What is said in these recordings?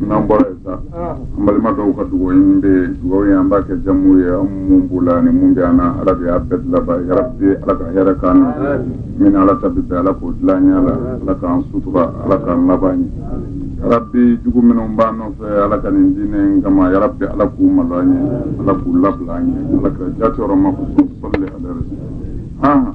n'an bɔra yen sa an balima dɔw ka dugawu in bɛ yen dugawu ye an b'a kɛ jamu ye an mun b'u la ani mun bɛ an na ala de y'a bɛɛ dilanba ye yarabi ala ka hɛrɛ k'an ɲɛ min ala ta bɛ bɛn ala k'o dilan ɲɛ la ala k'an sutura ala k'an laban ɲɛ yarabi jugu minnu b'an nɔfɛ ala ka nin diinɛ in kama yarabi ala k'u malo an ye ala k'u labila an ye ala ka jati yɔrɔ ma ko sɔli ala rasul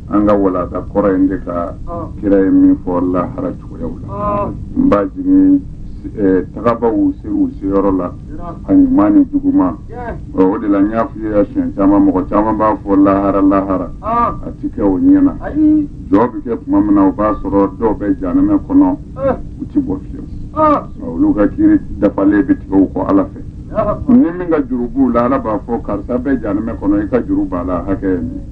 an ka walada kɔrɔ in de kan kira ye min fɔ lahara cogoyaw la n b'a jigi eh, tagabaw ser'u seyɔrɔ la a ɲuman ni juguman Ɔ, o de la n y'a f'i ye a siɲɛ caman mɔgɔ caman b'a fɔ lahara lahara a ti kɛ o ɲɛ na ayi jɔ bɛ kɛ tuma min na o b'a sɔrɔ dɔw bɛ janɛmɛ kɔnɔ u ti bɔ fiyewu Ɔ, olu ka kiri dafalen bɛ tigɛ u kɔ ala fɛ ni min ka juru b'u la ala b'a fɔ karisa bɛ janɛmɛ kɔnɔ i ka juru b'a la hakɛ ye nin ye.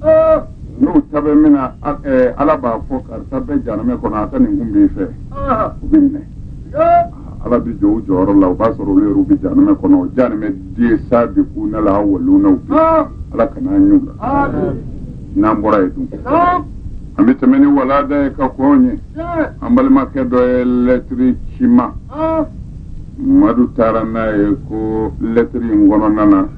n'u ta bɛ min na a- eh, ala b'a fɔ karisa bɛ janamɛ kɔnɔ a ka nin kun b'i fɛ Ah, u bɛ minɛ yeah. ala bɛ jɔ u jɔyɔrɔ la o b'a sɔrɔ olu yɛrɛ bɛ janamɛ kɔnɔ o janamɛ den saabikuna lawalunaw bɛ Ah, ala kana an y'u la ah, n'an bɔra yen dun ah, an bɛ tɛmɛ ni walada ye ka kɔn ye yeah. an balimakɛ dɔ ye lɛtiri ci n ma Ah, madu taara n'a ye ko lɛtiri in kɔnɔna na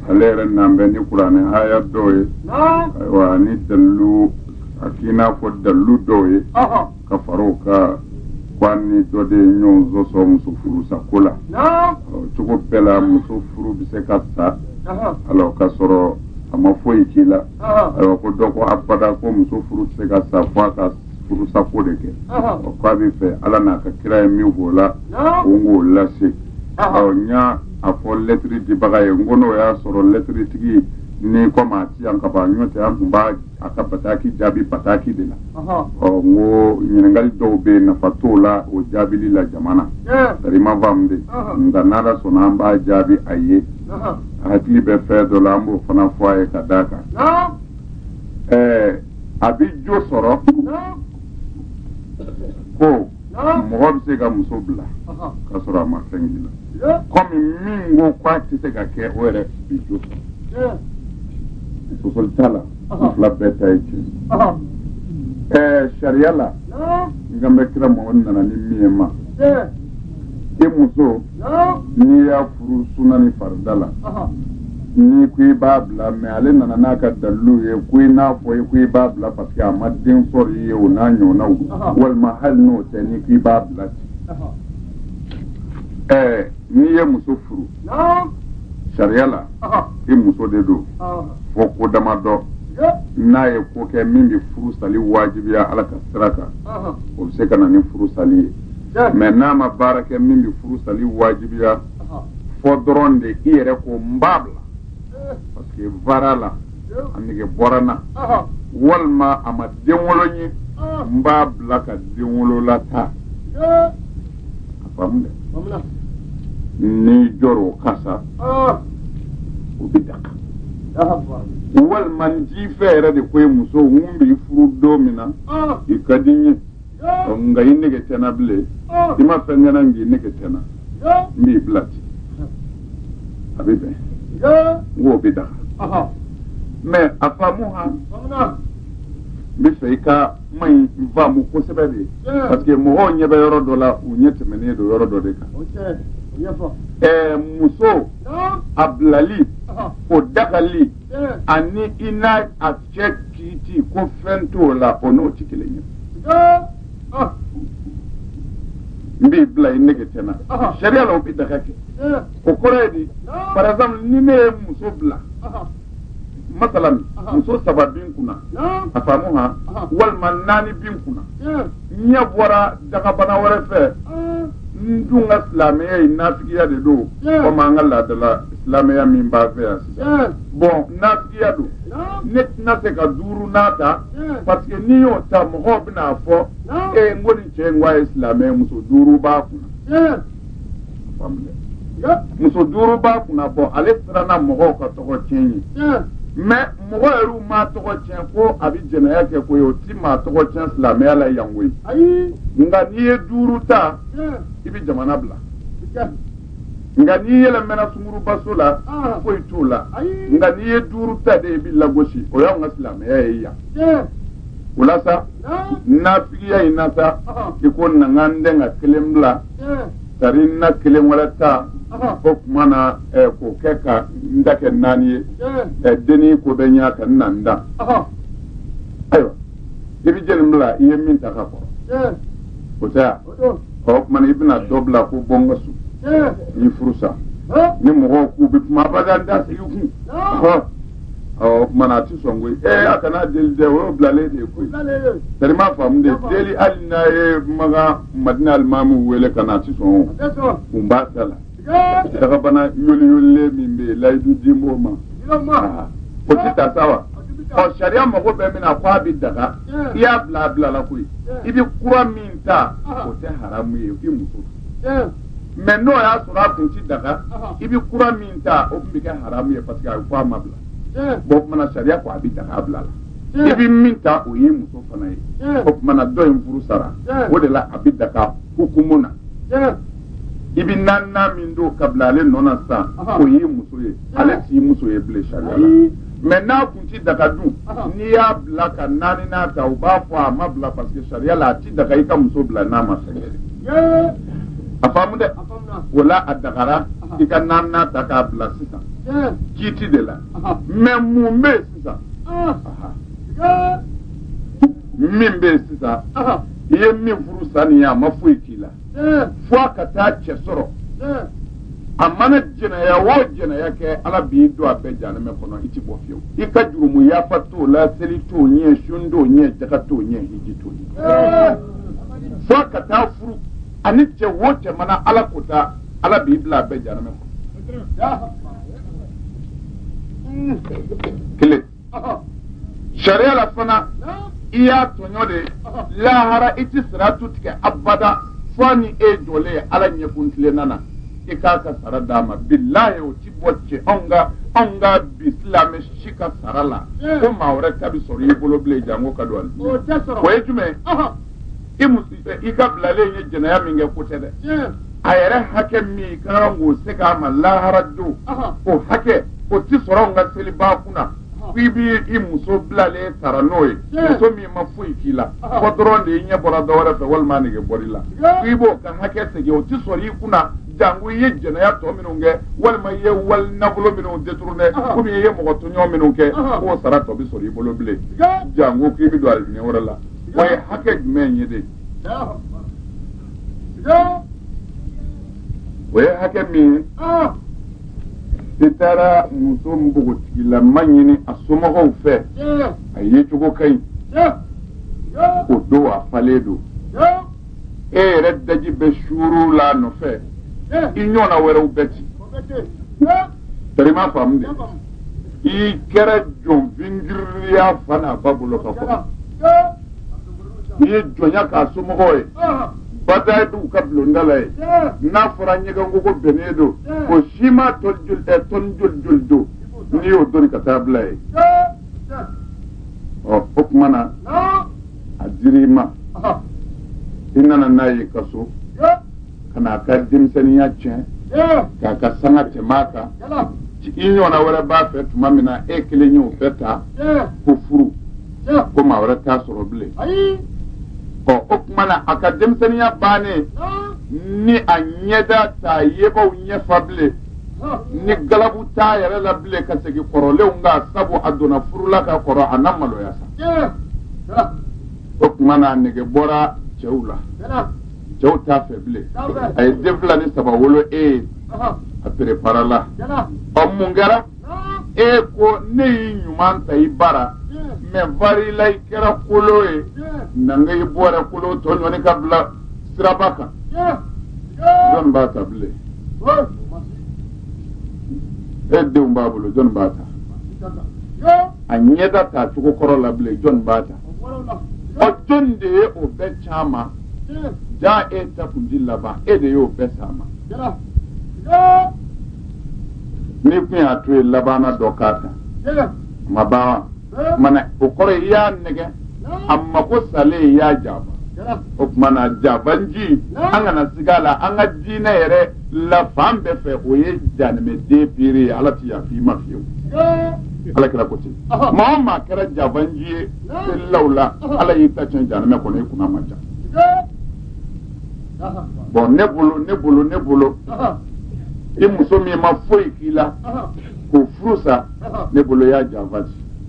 ale yɛrɛ nan bɛ ni kuranɛ haya dɔw ye ayiwa ani dalilu a k'i n'a fɔ dalilu dɔw ye ka fara o kan ko a ni dɔ de ye ɲɔgɔn sɔsɔ muso furusako la cogo bɛɛ la muso furu bɛ se ka sa alors ka sɔrɔ a ma foyi k'i la ayiwa ko dɔ ko abada ko muso furu tɛ se ka sa fo a ka furusako de kɛ o ko a b'a fɛ ala n'a ka kira ye min f'o la ko n k'o lase n y'a a fɔ lɛtiri dibaga ye n ko n'o y'a sɔrɔ lɛtiri tigi ni kɔmi a ti yan ka ban nɔntɛ an tun b'a a ka bataki jaabi bataki de la ɔ n ko ɲininkali dɔw bɛ yen nafa t'o la o jaabili la jama na tari ma faamu de nka n'ala sɔnna an b'a jaabi a ye hakili bɛ fɛn dɔ la an b'o fana fɔ a ye ka d'a kan ɛɛ a bɛ jo sɔrɔ ko mɔgɔ bɛ se ka muso bila ka sɔrɔ a ma fɛn k'i la kɔmi min ko k'a tɛ se ka kɛ o yɛrɛ bɛ jo sɔrɔ sosoli t'a la u fila bɛɛ ta ye tiɲɛ ye sariya la n kan bɛ kira Muhamadu nana ni min ye ma e muso n'i y'a furu suna ni farida la n'i ko i b'a bila mais ale nana n'a ka dalilu ye ko i n'a fɔ i ko i b'a bila parce que a ma den sɔrɔ i ye o n'a ɲɔgɔnnaw walima hali n'o tɛ n'i ko i b'a bila ten ɛɛ n'i ye muso furu sariya la i muso de don fo ko dama dɔ n'a ye ko kɛ min bɛ furu sali wajibiya ala ka sira kan o bɛ se ka na ni furu sali ye mɛ n'a ma baara kɛ min bɛ furu sali wajibiya fɔ dɔrɔn de i yɛrɛ ko n b'a bila parce que voilà a nege bɔra n na walima a ma den wolo n ye n b'a bila ka denwolola ta a faamu dɛ n'i jɔra o kan sa o bɛ daga walima n t'i fɛ yɛrɛ de ko ye muso n b'i furu don min na i ka di n ye nka i nege tɛ n na bilen i ma fɛn kɛ n na nka i nege tɛ n na n b'i bila ten a bɛ bɛn n k'o bɛ daga mɛ a faamu ha n b'a fɛ i ka kuma in faamu kosɛbɛ de parce que mɔgɔw ɲɛ bɛ yɔrɔ dɔ la u ɲɛ tɛmɛnen don yɔrɔ dɔ de kan ɛɛ muso a bilali o dagali ani i n'a a cɛ kiiti ko fɛn t'o la o n'o tɛ kelen ye ah. n b'i bila i nege tɛ n na ah. sariya la o bɛ daga kɛ eh. o kɔrɔ ye di ah. par exemple ni ne ye muso bila masalan muso saba bi n kunna a faamu ha walima naani bi n kunna eh. ɲɛ bɔra dagabana wɛrɛ fɛ eh. n dun ka silamɛya ye nafigiya de don komi an ka laadala silamɛya min b'an fɛ yan bɔn nafigiya don ne tɛna se ka duurunan ta parce que n'i y'o ta mɔgɔw bɛna a fɔ e n ko nin cɛ in ko a ye silamɛ ye muso duuru b'a kunna muso duuru b'a kunna bɔn ale siranna mɔgɔw ka tɔgɔ tiɲɛ ye mɛ mɔgɔ yɛrɛw m'a tɔgɔ tiɲɛ ko a bɛ jɛnɛya kɛ ko ye o ti maa tɔgɔ tiɲɛ silamɛya la yan koyi nka n'i ye duuru ta i bɛ jamana bila nka n'i yɛlɛmɛna sungurubaso la foyi t'o la nka n'i ye duuru ta de i bɛ lagosi o y'anw ka silamɛya ye yan o la sa nafigiya in na sa i ko na n ka n dɛn ka kelen bila tari n na kelen wɛrɛ ta o tuma na k'o kɛ ka n ta kɛ naani ye denni ko bɛ ɲa ka n na n da ayiwa i bɛ jɛni bila i ye min ta ka kɔrɔ o tɛ yan o tuma na i bɛna dɔ bila ko bɔ n ka so n y'i furu sa ni mɔgɔw k'u bɛ kuma abada n t'a sigi kun ɔ o tuma na a ti sɔn koyi ee a kana deli dɛ o y'o bilalen de ye koyi tari i m'a faamu de deli hali n'a ye makan madina alimamu wele ka na a ti sɔn o kun b'a da la dagabana yoliyolilen min bɛ yen layidu dilen b'o ma o tɛ ta sa wa ɔ sariya mago bɛ min na ko a bɛ daga i y'a bila a bilala koyi i bɛ kura min ta o tɛ haramu ye i muso mais n'o y'a sɔrɔ a kun ti daga i bɛ kura min ta o tun bɛ kɛ haramu ye parce que a bɛ fɔ a ma bila bon o tumana sariya ko a bɛ daga a bila la. i bɛ min ta o ye muso fana ye o tumana dɔ in furu sara o de la a bɛ daga hukumu na i bɛ naaninan min don ka bila ale nɔ na sisan Aha. o y'i muso ye ale t'i muso ye bilen sariya la Ayi. mais n'a kun ti daga dun Aha. n'i y'a bila ka naaninan ta u b'a fɔ a ma bila parce que sariya la a ti daga i ka muso bila n'a ma fɛn kɛ Yee. a faamu dɛ A faamuna. o la a dagara Aha. i ka naaninan ta k'a bila sisan Yee. kiiti de la Aha. mais mun bɛ yen sisan Ah. Aha. Yee. min bɛ yen sisan Aha. i ye min furu sa nin ye a ma foyi k'i la fo a ka taa cɛ sɔrɔ a mana jɛnɛya o jɛnɛya kɛ ala b'i don a bɛɛ janɛmɛ kɔnɔ i ti bɔ fiyewu i ka jurumu yafa t'o la seli t'o ɲɛ sun t'o ɲɛ jaga t'o ɲɛ hiji t'o ɲɛ fo a ka taa furu ani cɛ o cɛ mana ala ko ta ala b'i bila a bɛɛ janɛmɛ kɔnɔ kelen sariya la fana i y'a tɔɲɔ de lahara i tɛ siratu tigɛ abada fo ni e jɔlen ye ala ɲɛ kuntilenna na i k'a ka sara d'a ma bilahi o ti bɔ cɛ anw ka anw ka bi silamɛ si ka sara la ko maa wɛrɛ ta bi sɔrɔ i bolo bilen janko ka don ali o ye jumɛn i muso i ka bilalen ye jɛnɛya min kɛ ko tɛ dɛ a yɛrɛ hakɛ min i ka kan k'o segin a ma lahara don o hakɛ o tɛ sɔrɔ anw ka selibaa kunna ko i b'i i muso bilalen sara n'o ye muso min ma foyi k'i la fo dɔrɔn de i ɲɛ bɔra dɔ wɛrɛ fɛ walima a nege bɔr'i la ko i b'o ka hakɛ segin o tɛ sɔrɔ i kunna janko i ye jɛnɛya tɔ minnu kɛ walima i ye wali nafolo minnu détourné komi i ye mɔgɔ tɔɲɔ minnu kɛ k'o sara tɔ bɛ sɔrɔ i bolo bilen janko k'i bɛ don alijinɛ wɛrɛ la o ye hakɛ jumɛn ye de o ye hakɛ min ye ah. i taara muso npogotigilama ɲini a somɔgɔw fɛ a yecogo ka ɲi o don a falen don e yɛrɛ daji bɛ suuru la nɔfɛ i ɲɔgɔnna wɛrɛw bɛ ci Tari i m'a faamu de. I kɛra jɔn fin giriri y'a fa n'a ba bolo ka kɔrɔ. N'i ye jɔnya k'a somɔgɔw ye. Bada ye dugu ka bulonda la yen. N'a fɔra ɲɛgɛnkogo binnen don. O siman tɔni joli ɛ tɔni joli joli don. N'i y'o doni ka taa bila yen. Ɔ o tuma na. A dir'i ma. I nana n'a ye i ka so. ka na a ka denmisɛnninya tiɲɛ k'a ka sanga tɛmɛ a kan i ɲɔgɔnna wɛrɛ b'a fɛ tuma min na e kelen y'o bɛɛ ta ko furu ko maa wɛrɛ t'a sɔrɔ bilen ɔ o tuma na a ka denmisɛnninya bannen ni a ɲɛda t'a yebaw ɲɛfa bilen ni galabu t'a yɛrɛ la bilen ka segin kɔrɔlenw kan sabu a donna furu la ka kɔrɔ a na maloya sa o tuma na a nege bɔra cɛw la cɛw t'a fɛ bilen a ye den fila ni saba wolo e ye a perepara la ɔ mun kɛra e ko ne y'i ɲuman ta i bara mais voilà i kɛra kolo ye nanga i bɔra kolo tɔ ɲɔni ka bila siraba kan jɔni b'a ta bilen e denw b'a bolo jɔni b'a ta a ɲɛda t'a cogo kɔrɔ la bilen jɔni b'a ta ɔ jɔni de ye o bɛɛ s'a ma jaa e ta kunji laban e de y'o bɛɛ s'a ma n'i kun y'a to yen labanna dɔ k'a ta ma ban wa mana o kɔrɔ i y'a nɛgɛn a mako salen i y'a janfa o tuma na janfanci an kana siga a la an ka diinɛ yɛrɛ la fan bɛɛ fɛ o ye janimɛden piiri ye ala ti yafa i ma fiyewu ala kira ko ten maa o maa kɛra janfanci ye law la ala y'i ta tiɲɛ janmɛ kɔnɔ i kunna ma ja bon ne bolo ne bolo ne bolo i muso min ma foyi k'i la k'o furu sa ne bolo y'a janfa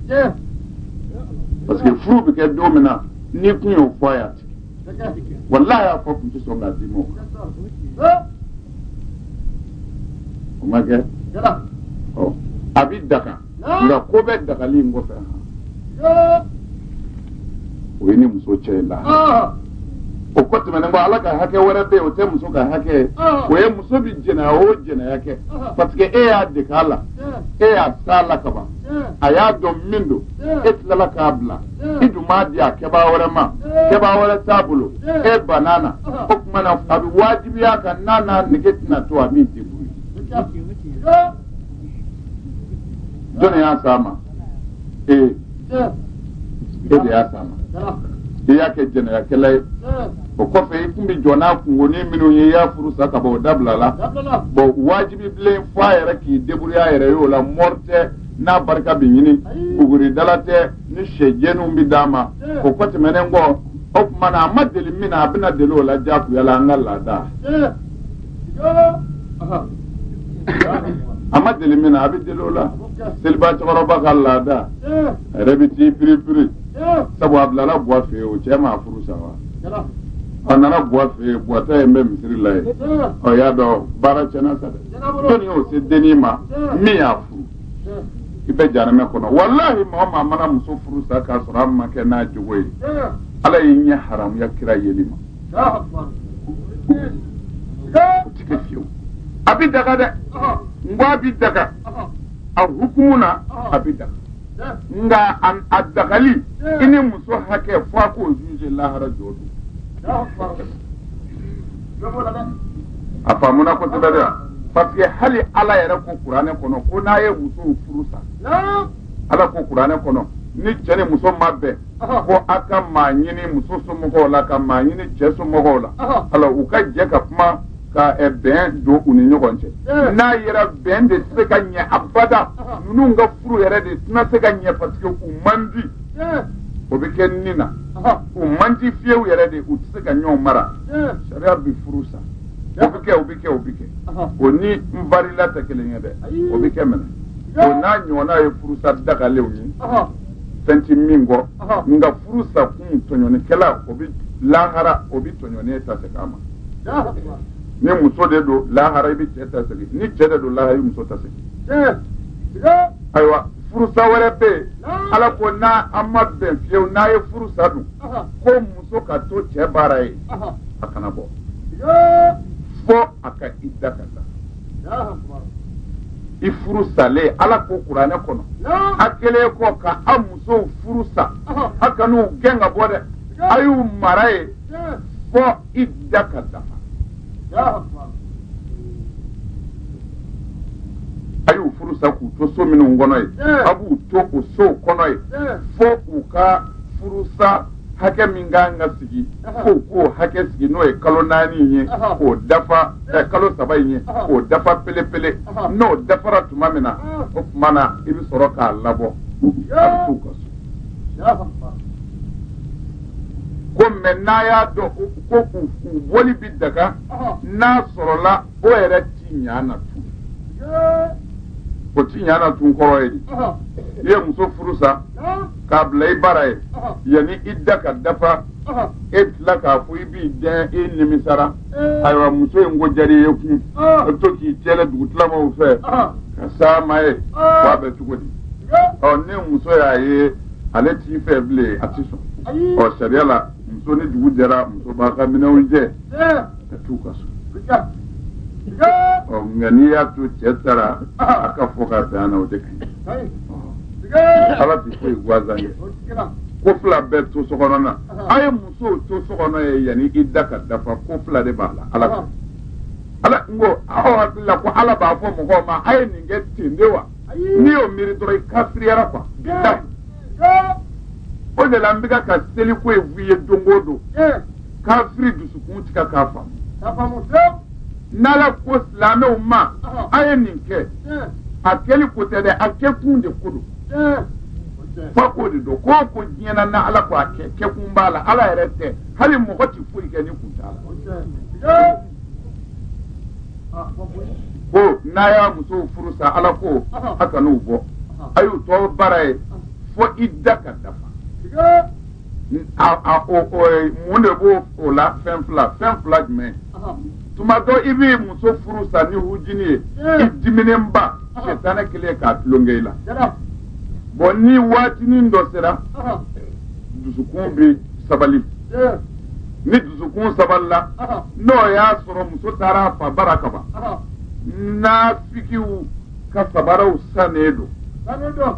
de parce que furu bɛ kɛ don min na n'i kun y'o fɔ a y'a tɛ kɛ walahi y'a fɔ kun tɛ sɔn k'a d'i ma o kan o ma kɛ ɔ a bi daga nka ko bɛ dagali in kɔfɛ o ye ni muso cɛ ye la o ko tɛmɛnen kɔ ala ka hakɛ wɛrɛ bɛ yen o tɛ muso ka hakɛ ye o ye muso bi jɛnɛya o jɛnɛya kɛ parce que e y'a dege a la e y'a s'a la ka ban a y'a dɔn min don e tilala k'a bila i dun m'a di a kɛbaa wɛrɛ ma kɛbaa wɛrɛ t'a bolo e banna na o tuma na a bɛ wajibiya a kan n'a n'a nege tɛna to a min tɛ bolo jɔn y'a s'a ma e e de y'a s'a ma i y'a kɛ jɛnɛyakɛla ye o kɔfɛ i kun bɛ jɔ n'a kunkonin minnu ye i y'a furu sa ka bɔ o dabila la bon wajibi bilen fɔ a yɛrɛ k'i débrouiller a yɛrɛ ye o la mɔri tɛ n'a barika bɛ ɲini buguridala tɛ ni sɛ jɛniw bɛ d'a ma o ko tɛmɛnen kɔ o tuma na a ma deli min na a bɛna deli o la diyagoya la an ka laada a ma deli min na a bɛ deli o la seliba cɛkɔrɔba ka laada a yɛrɛ bɛ t'i piripiri sabu a bilala buwa fɛ o cɛ m'a furu sa wa a nana buwa fɛ buwa taalen bɛ misiri la yen ɔ y'a dɔn baara cɛna sa dɛ jɔnni y'o se denni ma min y'a furu i bɛ jahanama kɔnɔ walahi maa o maa mana muso furu sa k'a sɔrɔ a ma kɛ n'a jogo ye ala y'i ɲɛ haramuya kira yeli ma o ti kɛ fiyewu a bɛ daga dɛ n ko a bɛ daga a hukumu na a bɛ daga nka a- a dagali i ni muso hakɛ fo a k'o jigin lahara jɔ don a faamuna kosɛbɛ dɛ parce que hali ala yɛrɛ ko kuranɛ kɔnɔ ko n'a ye musow furu sa ala ko kuranɛ kɔnɔ ni cɛ ni muso ma bɛn ko a ka maa ɲini muso somɔgɔw la ka maa ɲini cɛ somɔgɔw la alors u ka jɛ ka kuma ka eh, bɛn don u ni ɲɔgɔn cɛ eh. n'a yera bɛn tɛ se ka ɲɛ abada ninnu ka furu yɛrɛ de tɛna se ka ɲɛ parce que u man di eh. o bɛ kɛ nin na u man di fiyewu yɛrɛ de u tɛ se ka ɲɔgɔn mara sariya bɛ furu sa o bɛ kɛ o bɛ kɛ o bɛ kɛ o ni n barila tɛ kelen ye dɛ o bɛ kɛ mɛnɛ o n'a ɲɔgɔnna ye furusa dagalenw ye fɛn tɛ min kɔ nka furu sa kun tɔɲɔnikɛla o bɛ lahara o bɛ tɔɲɔnen ta segin a ma ni muso de don lahara i bɛ cɛ ta segin ni cɛ de don lahara i bɛ muso ta segin ayiwa furusa wɛrɛ bɛ yen ala ko n'aw ma bɛn fiyewu n'a ye furu sa dun ko muso ka to cɛ bara yen a kana bɔ fo a ka ida ka taa i furu salen ala ko kuranɛ kɔnɔ a kɛlen kɔ ka aw musow furu sa a kan'u gɛn ka bɔ dɛ a y'u mara yen fo ida ka dafa a y'u furu sa k'u to so minnu kɔnɔ yen a b'u to o sow kɔnɔ yen fo u ka furu sa hakɛ min ka kan ka sigi k'u k'o hakɛ sigi n'o ye kalo naani in ye k'o dafa eh, kalo saba in ye k'o dafa pelepele n'o dafara tuma min na o tuma na i bɛ sɔrɔ k'a labɔ a bɛ t'u ka so ko mɛ n'a y'a dɔn ko u u bɔli bɛ daga n'a sɔrɔla o yɛrɛ ti ɲa na tun o ti ɲa na tun kɔrɔ ye di i ye muso furu sa k'a bila i bara yen yanni ida ka dafa e tila k'a fɔ i b'i dɛn i nimisara ayiwa muso in ko diyara i ye tugun a bɛ to k'i cɛlɛ dugutilamaw fɛ ka s'a ma yen k'a bɛ cogo di ɔ ni muso y'a ye ale t'i fɛ bilen a ti sɔn ɔ sariya la muso ni dugu jɛra muso b'a ka minɛnw cɛ ka t'u ka so nka n'i y'a to cɛ taara a ka fɔ ka bɛn na o de ka ɲi ala ti foyi gansan kɛ ko fila bɛ to so kɔnɔ na a ye musow to so kɔnɔ ye yanni ida ka dafa ko fila de b'a la ala ala n ko aw hakili la ko ala b'a fɔ mɔgɔw ma a ye nin kɛ ten de wa n'i y'o miiri dɔrɔn i kafiriyara quoi o de la an bɛ ka ka seliko ye f'i ye don o don kafiri dusukun tigɛ k'a faamu n'ala ko silamɛw ma a ye nin kɛ a kɛli ko tɛ dɛ a kɛkun de ko don f'a k'o de dɔn k'o ko diɲɛna na ala ko a kɛ kɛkun b'a la ala yɛrɛ tɛ hali mɔgɔ tɛ foyi kɛ ni kun t'a la ko n'a y'a muso furu sa ala ko a kan'u bɔ a y'u to bara yen fo ida ka dafa mun de b'o o la fɛn fila fɛn fila jumɛn tuma dɔ i b'i muso furu sa ni hujini ye i diminenba sɛtanɛ kɛlen ka tulonkɛ i la bon ni waatinin dɔ sera dusukun bɛ sabali ni dusukun sabalila n'o y'a sɔrɔ muso taara a fa bara kaban naafikiw ka sabaraw sannen don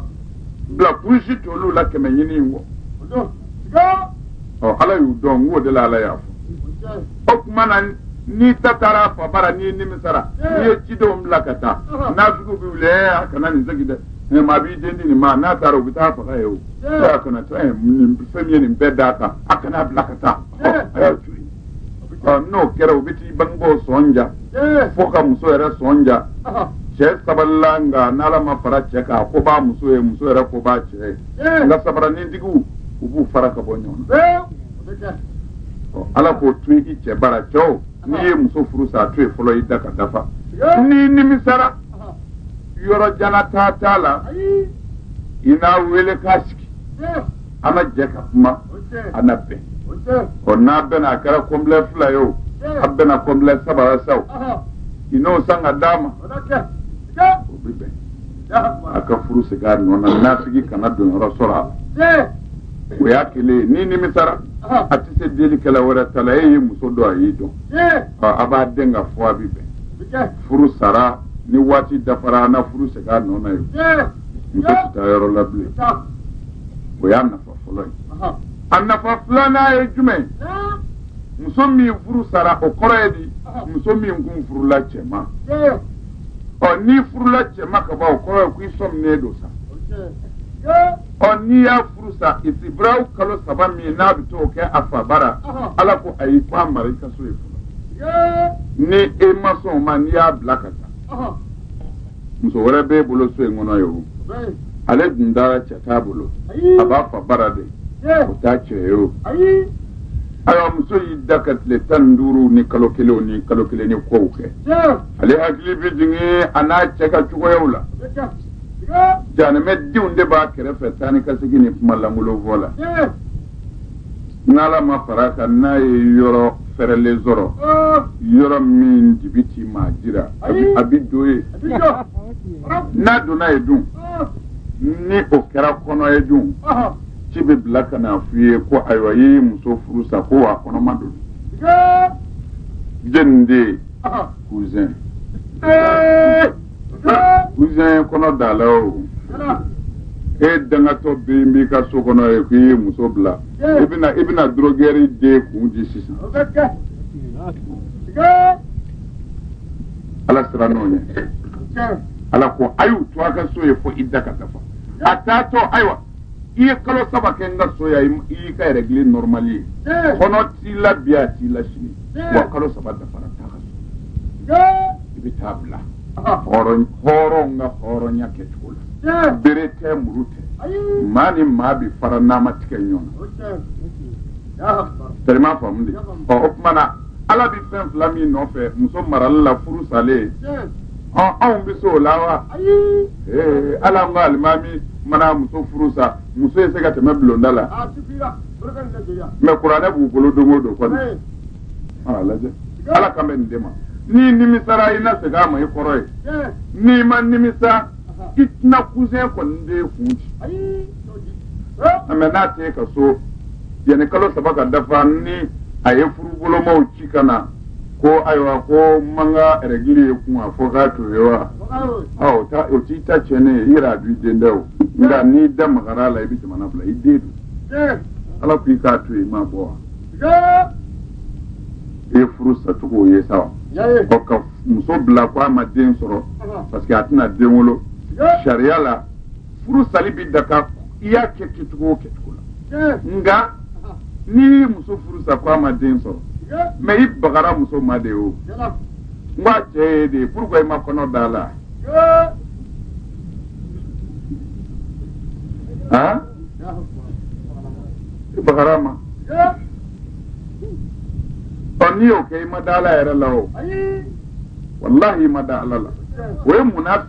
bila kulusi t'olu la kɛmɛ ɲini in kɔ ɔ ala y'u dɔn n k'o de la ala y'a fɔ o tuma na n'i ta taara a fa bara n'i nimisara n'i ye cidenw bila ka taa naafikiw bɛ wuli ɛɛ a kana nin segin dɛ maa b'i den di nin ma n'a taara u bɛ t'a faga yen o a kana to nin fɛn ye nin bɛɛ d'a kan a kan'a bila ka taa a y'a to yen n'o kɛra u bɛ t'i bangebaaw sɔn ja fo ka muso yɛrɛ sɔn ja cɛ sabalila nka n'ala ma fara cɛ kan a ko b'a muso ye muso yɛrɛ ko b'a cɛ ye nka sabaranintigiw u b'u fara ka bɔ ɲɔgɔn na ala k'o to i cɛ bara cɛw n'i ye muso furu sa a to yen fɔlɔ ida ka dafa n'i nimisara yɔrɔ jan na taa t'a la i n'a wele k'a sigi an na jɛ ka kuma an na bɛn ɔ n'a bɛnna a kɛra kɔnbilɛ fila ye o a bɛnna kɔnbilɛ saba la sa o i n'o san ka d'a ma o bɛ bɛn a ka furu segin a nɔ na naafiki kana don yɔrɔ sɔrɔ a la o y'a kelen ye n'i nimisara a tɛ se delikɛla wɛrɛ ta la e ye muso dɔn a y'i dɔn a b'a den k'a fɔ a bɛ bɛn furu sara ni waati dafara an na furu segin a nɔ na ye muso tɛ taa yɔrɔ la bilen o y'a nafa fɔlɔ ye a nafa filanan ye jumɛn muso min furu sara o kɔrɔ ye di muso min kun furula cɛ ma ɔ n'i furula cɛ ma ka ban o kɔrɔ ye ko i sɔminen don sa ɔ n'i y'a furu sa isibiraw kalo saba mɛ n'a bɛ t'o kɛ a fa bara ala ko ayi ko a mara i ka so ye fɔlɔ ni e ma sɔn o ma n'i y'a bila ka taa muso wɛrɛ b'e bolo so in kɔnɔ ye o ale dun dara cɛ t'a bolo a b'a fa bara de o t'a cɛ ye o ayiwa muso y'i da ka tile tan ni duuru ni kalo kelen ni kalo kelen ni kow kɛ ale hakili bɛ jigin a n'a cɛ ka cogoyaw la jahanama denw de b'a kɛrɛfɛ taa ni ka segin ni kuma lankolon fɔ la n'ala ma fara kan n'a ye yɔrɔ fɛrɛlen sɔrɔ yɔrɔ min dibi tɛ maa jira a bɛ don ye n'a donna ye dun ni o kɛra kɔnɔ ye dun ci bɛ bila ka na f'i ye ko ayiwa i ye muso furu sa ko a kɔnɔma don jɛnni den cousin cousin kɔnɔ d'a la o e dangatɔ bɛ b'i ka so kɔnɔ ye k'i ye muso bila i bɛna i bɛna dorogɛri den kun di sisan ala sira n'o ye ala ko a y'u to a ka so ye fo ida ka dafa a t'a to ayiwa i ye kalo saba kɛ n ka so yan i y'i ka règle normale ye eh. kɔnɔ t'i la bi a t'i la sini eh. wa kalo saba dafara taa ka so eh. i bɛ t'a bila ah. hɔrɔn hɔrɔn ka hɔrɔnya kɛcogo la bere tɛ muru tɛ maa ni maa bɛ fara n'a ma tigɛ ɲɔgɔn na tɛrɛ ma faamu de ɔ o tuma na ala bɛ fɛn fila min nɔfɛ muso marali la furu salen ɔn anw bɛ se o la wa ayi ee hali an ka alimami mana muso furu sa muso ye se ka tɛmɛ bulonda la a sifira barika ni lajɛya mɛ kuranɛ b'u bolo don o don kɔni ee a lajɛ ala kan bɛ nin de ma n'i nimisara i na segin a ma i kɔrɔ ye ee n'i ma nimisa i tɛna cousin kɔni den kun di ayi t'o di ee mɛ n'a t'i ka so yanni kalo saba ka dafa ni a ye furubolomaw ci ka na ko ayiwa ko n ma n ka règle ye kun a fɔ k'a to ye wa ɔ o ta o t'i ta tiɲɛ ne ye i yɛrɛ a b'i den da o nka n'i da magara a la i bɛ jamana bila i den don ala ko i k'a to yen i m'a bɔ wa i ye furu sacogo ye sa wa ɔ ka muso bila ko a ma den sɔrɔ parce que a tɛna den wolo sariya la furu sali bɛ daga i y'a kɛ kɛcogo o kɛcogo la nka n'i ye muso furu sa ko a ma den sɔrɔ mais i bagara muso ma de o n k'a cɛ ye de pourquoi i ma kɔnɔ d'a la han i bagar'a ma o n'i y'o kɛ i ma da ala yɛrɛ la o walahi i ma da ala la o ye munna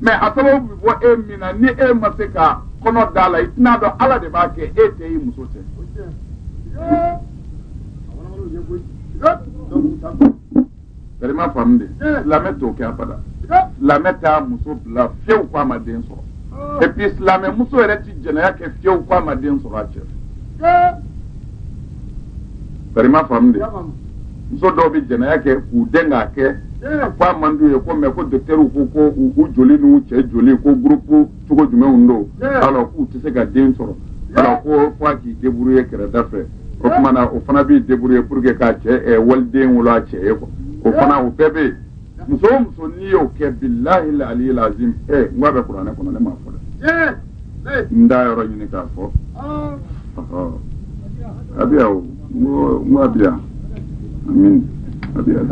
mais a sababu bɛ bɔ e min na ni e ma se ka kɔnɔ d'a la i tɛn'a dɔn ala de b'a kɛ e tɛ i muso tɛ bari i m'a faamu de silamɛ t'o kɛ abada silamɛ t'a muso bila fiyewu ko a ma den sɔrɔ et puis silamɛ muso yɛrɛ ti jɛnɛya kɛ fiyewu ko a ma den sɔrɔ a cɛ bari i m'a faamu de muso dɔw bɛ jɛnɛya kɛ k'u dɛn k'a kɛ ko a man d'u ye ko mais ko dɔkitɛriw ko ko u joli n'u cɛ joli ko groupe cogo jumɛnw don alors k'u tɛ se ka den sɔrɔ alors ko fo a k'i débrouiller kɛrɛda fɛ o tuma na o fana b'i débrouiller pour que ka cɛ wali den wolo a cɛ ye quoi o fana o bɛɛ bɛ yen muso o muso n'i y'o kɛ bilahi laliyi lazim ɛ n k'a bɛ kuranɛ kɔnɔ ne m'a fɔ dɛ n d'a yɔrɔ ɲini k'a fɔ a bɛ yan o n ko n ko a bɛ yan amin a bɛ yan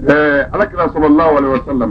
ɛɛ alakira sallallahu alaihi wasallam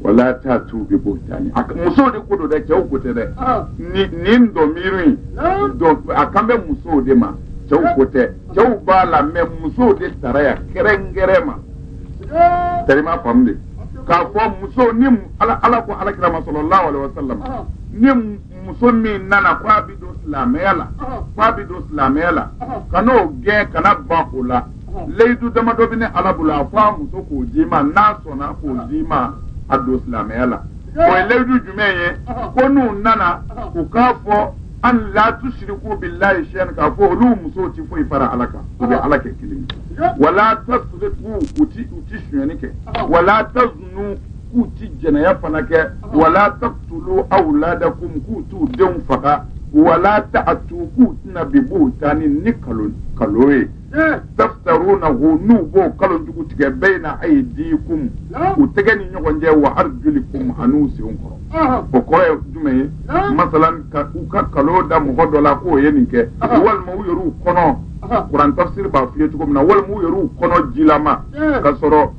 wala ta'atu bi buhutani a ka- muso de ko don dɛ cɛw ko tɛ dɛ ni nin dɔmiiri in don a kan bɛ muso de ma cɛw ko tɛ cɛw b'a la mais muso de tara yan kɛrɛnkɛrɛn ma tari i m'a faamu de k'a fɔ muso ni mu- ala ala ko alakira ma sallallahu alaihi wasallam ni mu- muso min nana ko a bi don silamɛya la ko a bi don silamɛya la kan'o gɛn kana ban o la layidu damadɔ bɛ ne ala bolo a fɔ a muso k'o d'i ma n'a sɔnna k'o d'i ma a don silamɛya la o ye layidu jumɛn ye ko n'u nana u k'a fɔ an la tusiriku bilahi sayan k'a fɔ olu musow ti foyi fara ala kan u bɛ ala kɛ kelen ye wala tasiriku u ti u ti sonyani kɛ wala tazunu k'u ti jɛnɛya fana kɛ wala takitulu awuladakum k'u t'u denw faga wala ta'atu k'u tɛ na bi buhutani ni kalon kalon ye tafutarunahu n'u b'o kalon jugu tigɛ bayina ayidikum u tɛgɛ ni ɲɔgɔn cɛ wa arijulikum an'u senw kɔrɔ o kɔrɔ ye jumɛn ye masalan u ka kalon da mɔgɔ dɔ la k'o ye nin kɛ walima u yɛrɛ u kɔnɔ kuran tafsiri b'a f'i ye cogo min na walima u yɛrɛ u kɔnɔ jilama ka sɔrɔ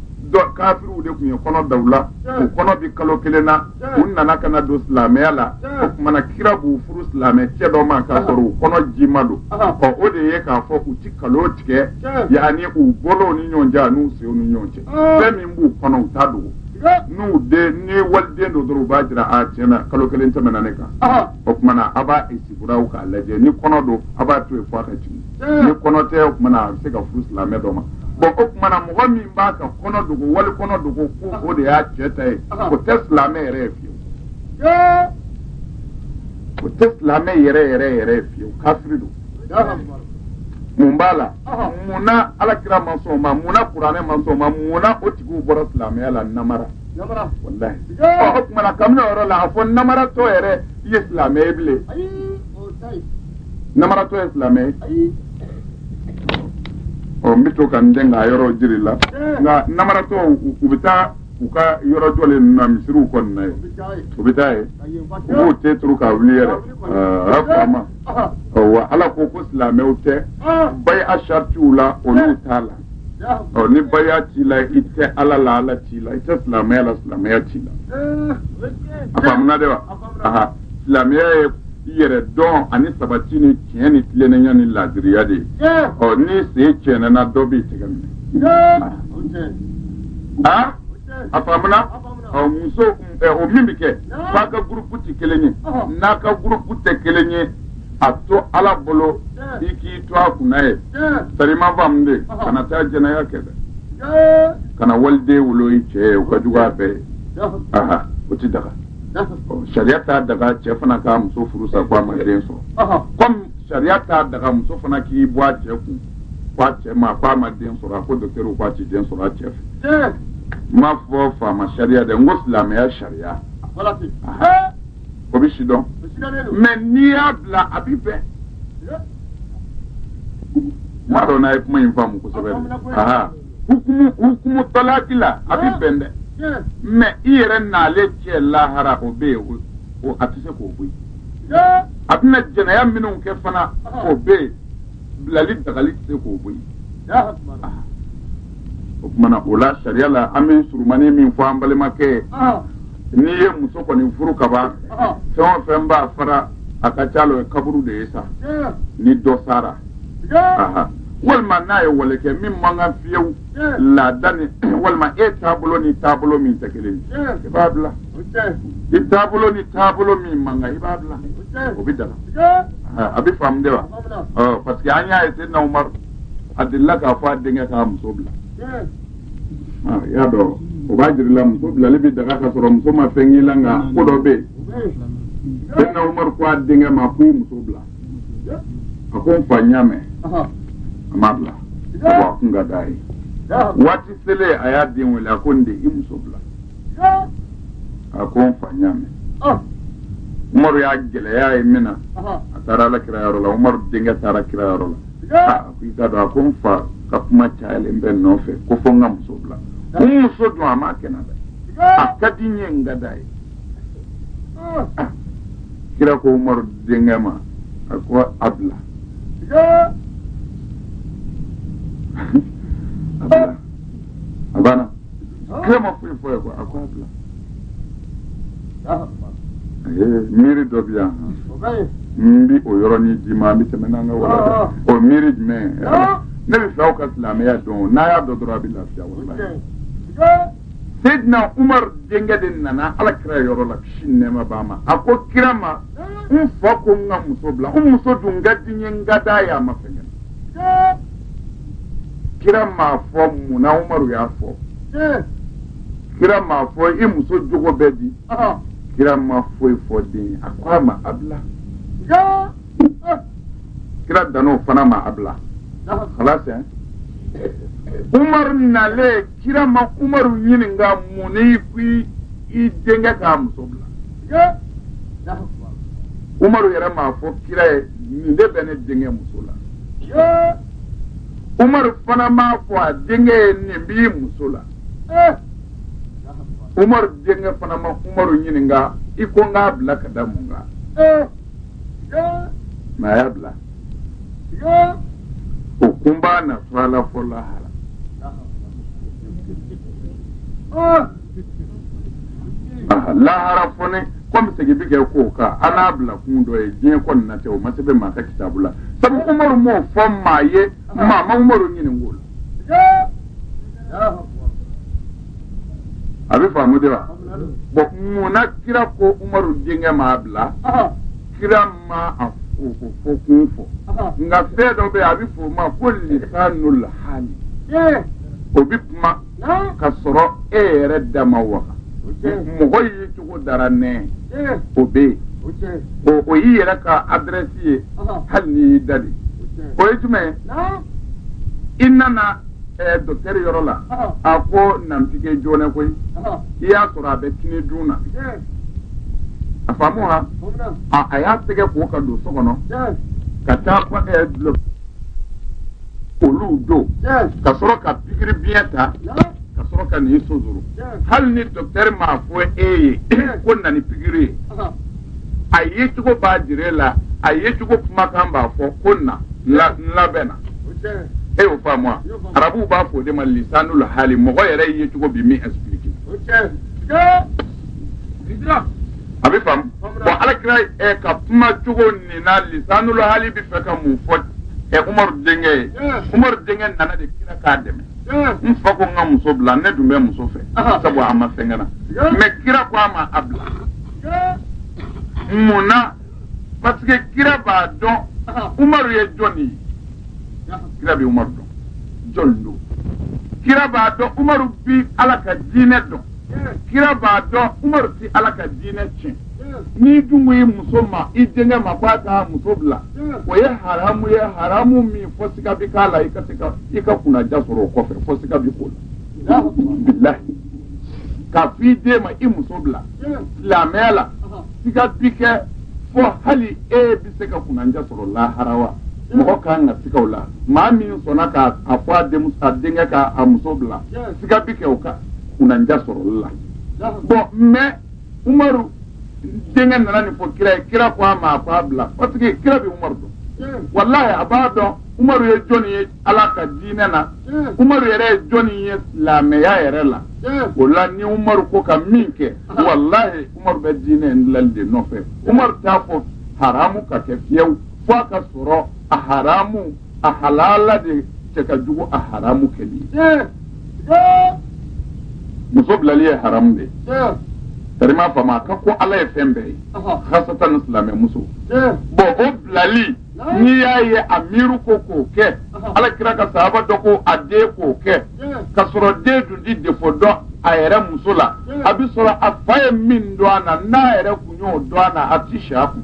kafiriw de tun ye kɔnɔ da u la u kɔnɔ bɛ kalo kelen na u nana ka na don silamɛya la o tuma na kira b'u furu silamɛ cɛ dɔ ma k'a sɔrɔ u kɔnɔ ji ma don ɔ o de ye k'a fɔ u ti nkalon tigɛ yanni u bolow ni ɲɔgɔn cɛ n'u senw ni ɲɔgɔn cɛ fɛn min b'u kɔnɔ u t'a dogo n'u den ni waliden don dɔrɔn u b'a jira a tiɲɛ na kalo kelen tɛmɛna ne kan o tuma na a b'a isitibirawu k'a lajɛ ni kɔnɔ don a b'a to yen fo a ka jigin ni kɔnɔ tɛ o tuma na a bɛ se ka furu silamɛ dɔ ma bɔn o tuma na mɔgɔ min b'a ka kɔnɔ dogo wali kɔnɔ dogo ko o de y'a cɛ ta ye o tɛ silamɛ yɛrɛ ye fiyewu o tɛ silamɛ yɛrɛ yɛrɛ yɛrɛ ye fiyewu kafiri don mun b'a la mun na ala kira ma sɔn o ma mun na kuranɛ ma sɔn o ma mun na o tigiw bɔra silamɛya la namara walahi ɔ o tuma na kabini o yɔrɔ la a fɔ namaratɔ yɛrɛ i ye silamɛ ye bilen namaratɔ ye silamɛ ye ɔ n bɛ to ka n dɛn k'a yɔrɔ jira i la nka namaratɔ u bɛ taa u ka yɔrɔ jɔlen ninnu na misiriw kɔnɔna yen u bɛ taa yen u b'u ten turu k'a wuli yɛrɛ a faamuna wa ala ko ko silamɛw tɛ baya saratiw la olu t'a la ɔ ni baya t'i la i tɛ ala la ala t'i la i tɛ silamɛya la silamɛya t'i la a faamuna de wa aha silamɛya ye i yɛrɛ dɔn ani sabati ni tiɲɛ ni tilennenya ni laadiriya de ye ɔ n'i sen cɛɛnɛna dɔ b'i tɛgɛ minɛ a a faamuna ɔ muso ɛ o min bɛ k'a f'a ka gurupu tɛ kelen ye n'a ka gurupu tɛ kelen ye a to ala bolo i k'i to a kunna yen sa i m'a faamu dɛ kana taa jɛnɛya kɛ dɛ kana waliden wolo i cɛ ye o ka jugu a bɛɛ ye aha o ti daga ɔ sariya t'a daga cɛ fana ka muso furu sa ko a ma den sɔrɔ kɔmi sariya t'a daga muso fana k'i bɔ a cɛ kun k'a cɛ ma k'a ma den sɔrɔ a ko dɔkitɛriw k'a ti den sɔrɔ a cɛ fɛ n m'a fɔ faama sariya dɛ n ko silamɛya sariya o bɛ si dɔn mɛ n'i y'a bila a b'i bɛn n m'a dɔn n'a ye kuma in faamu kosɛbɛ dɛ hukumu hukumu talaki la a b'i bɛn dɛ mɛ i yɛrɛ n'ale cɛ lahara o bɛ yen o a tɛ se k'o bɔ yen a bɛna jɛnɛya minnu kɛ fana o bɛ yen bilali dagali tɛ se k'o bɔ yen o tuma na o la sariya la an bɛ surumani min fɔ an balimakɛ n'i ye muso kɔni furu kaban fɛn o fɛn b'a fara a ka ca la o kaburu de ye sa ni dɔ sara walima n'a ye wale kɛ min man kan fiyewu laada ni walima e taabolo ni taabolo min tɛ kelen i b'a bila i taabolo ni taabolo min man kan i b'a bila o bɛ daga a bɛ faamu de wa parce que an y'a ye seyidina umaru a delila k'a fɔ a denkɛ k'a muso bila i y'a dɔn o b'a jir'i la muso bilali bɛ daga ka sɔrɔ muso ma fɛn k'i la nka ko dɔ bɛ yen seyidina umaru ko a denkɛ ma ko i muso bila a ko n fa n y'a mɛn a m'a bila wa a kun ka d'a ye waati selen a y'a den wele a ko n den i muso bila a ko n fa ɲ'a mɛn umaru y'a gɛlɛy'a ye min na a taara ala kira yɔrɔ la umaru denkɛ taara kira yɔrɔ la a ko i k'a dɔn a ko n fa ka kuma cayalen bɛ n nɔfɛ ko fo n ka muso bila n muso dun a m'a kɛ n na dɛ a ka di n ye n ka d'a ye kira ko umaru denkɛ ma a ko a bila a bila a banna kira ma foyi f'a ye a ko a bila miiri dɔ bɛ yan n bi o yɔrɔnin d'i ma an bɛ tɛmɛ n'an ka wala ah. o miiri jumɛn ne b'a fɛ aw ka silamɛya dɔn n'a y'a dɔn dɔrɔn a bɛ lafiya walahi Seydina Umar denkɛ de nana ala kira yɔrɔ la kisi ni nɛɛma b'a ma a ko kira ma n fa ko n ka muso bila n muso dun ka di n ye n ka d'a ye a ma fɛn kɛ kira m'a fɔ munna umaru y'a fɔ kira m'a fɔ i muso jogo bɛ di kira ma foyi fɔ den ye a ko a ma a bila kira dan'o fana ma a bila kalasi umaru nalen kira ma umaru ɲininka mun n'i ko i denkɛ k'a muso bila umaru yɛrɛ m'a fɔ kira ye nin de bɛ ne denkɛ muso la umaru fana m'a fɔ a denkɛ ye nin b'i muso la umaru denkɛ fana ma umaru ɲininka i ko n k'a bila ka da mun kan mais a y'a bila o kun b'a na fɔ a la fo lahara lahara fɔnɛ komi segin bi kɛ ko kan an n'a bila kun dɔn yen diɲɛ kɔni na tɛ o ma sɛbɛn maa ka kitabu la sabu umaru m'o fɔ maa ye maa ma umaru ɲinink'o la a bɛ faamu de wa bon mun na kira ko umaru denkɛ m'a bila kira ma a k'o fɔ kun fɔ nka fɛn dɔ bɛ yen a bɛ fɔ o ma ko lisanul hali o bɛ kuma ka sɔrɔ e yɛrɛ da ma waga mɔgɔ ye cogo dɔrɔn ne o bɛ yen o o y'i yɛrɛ ka adirɛsi ye hali n'i y'i da de o ye jumɛn ye i nana ɛɛ docteur yɔrɔ la a ko na n piquer joona koyi i y'a sɔrɔ a bɛ kini dun na a faamu wa a y'a tɛgɛ ko ka don so kɔnɔ ka taa ɛɛ dulɔ olu don ka sɔrɔ ka pikiri biɲɛ ta ka sɔrɔ ka n'i sonsoro hali ni docteur m'a fɔ e ye ko na ni pikiri ye a ye cogo b'a jira la a ye cogo kumakan b'a fɔ ko na n labɛnna e y'o faamu wa arabuw b'a fɔ o de ma lisanul hali mɔgɔ yɛrɛ ye cogo bi min expliquer a bɛ faamu bon ala kira ɛ ka kuma cogo nin na lisanul hali bɛ fɛ ka mun fɔ ɛ umaru denkɛ ye umaru denkɛ nana de kira k'a dɛmɛ n fa ko n ka muso bila ne dun bɛ muso fɛ sabu a ma fɛn kɛ n na mais kira ko a ma a bila mun na parce que kira b'a dɔn umaru ye jɔn ye kira bɛ umaru dɔn jɔn don kira b'a dɔn umaru bi ala ka diinɛ dɔn kira b'a dɔn umaru ti ala ka diinɛ tiɲɛ n'i dun ko i muso ma i denkɛ ma ko a ka muso bila o ye haramu ye haramu min fo siga bi k'a la i ka se ka i ka kunnaja sɔrɔ o kɔfɛ fo siga bi k'o la bilahi k'a fɔ i den ma i muso bila silamɛya la siga bi kɛ fo hali e bɛ se ka kunanja sɔrɔ lahara wa mɔgɔ ka kan ka siga o la maa min sɔnna ka a fɔ a denmuso a denkɛ ka a muso bila siga bi kɛ o ka kunanja sɔrɔli la bon mais umaru denkɛ nana nin fɔ kira ye kira ko a ma a ko a bila parce que kira bɛ umaru dɔn walayi a b'a dɔn umaru ye jɔnni ye ala ka diinɛ na umaru yɛrɛ ye jɔni ye silamɛya yɛrɛ la o la ni umaru ko ka min kɛ walahi umaru bɛ diinɛ in dilali de nɔfɛ umaru t'a fɔ haramu ka kɛ fiyewu fo a ka sɔrɔ a haramu a halala de cɛ ka jugu a haramu kɛli muso bilali ye haramu de tarima fama a ka go ala ye fɛn bɛɛ ye hasatan ni silamɛmuso bon o bilali n'i y'a ye a miiri ko k'o kɛ ala kira ka sahaba dɔ ko a den k'o kɛ ka sɔrɔ den tun ti défaut dɔn a yɛrɛ muso la a bɛ sɔrɔ a fa ye min dɔn a na n'a yɛrɛ kun y'o dɔn a na a tɛ si a kun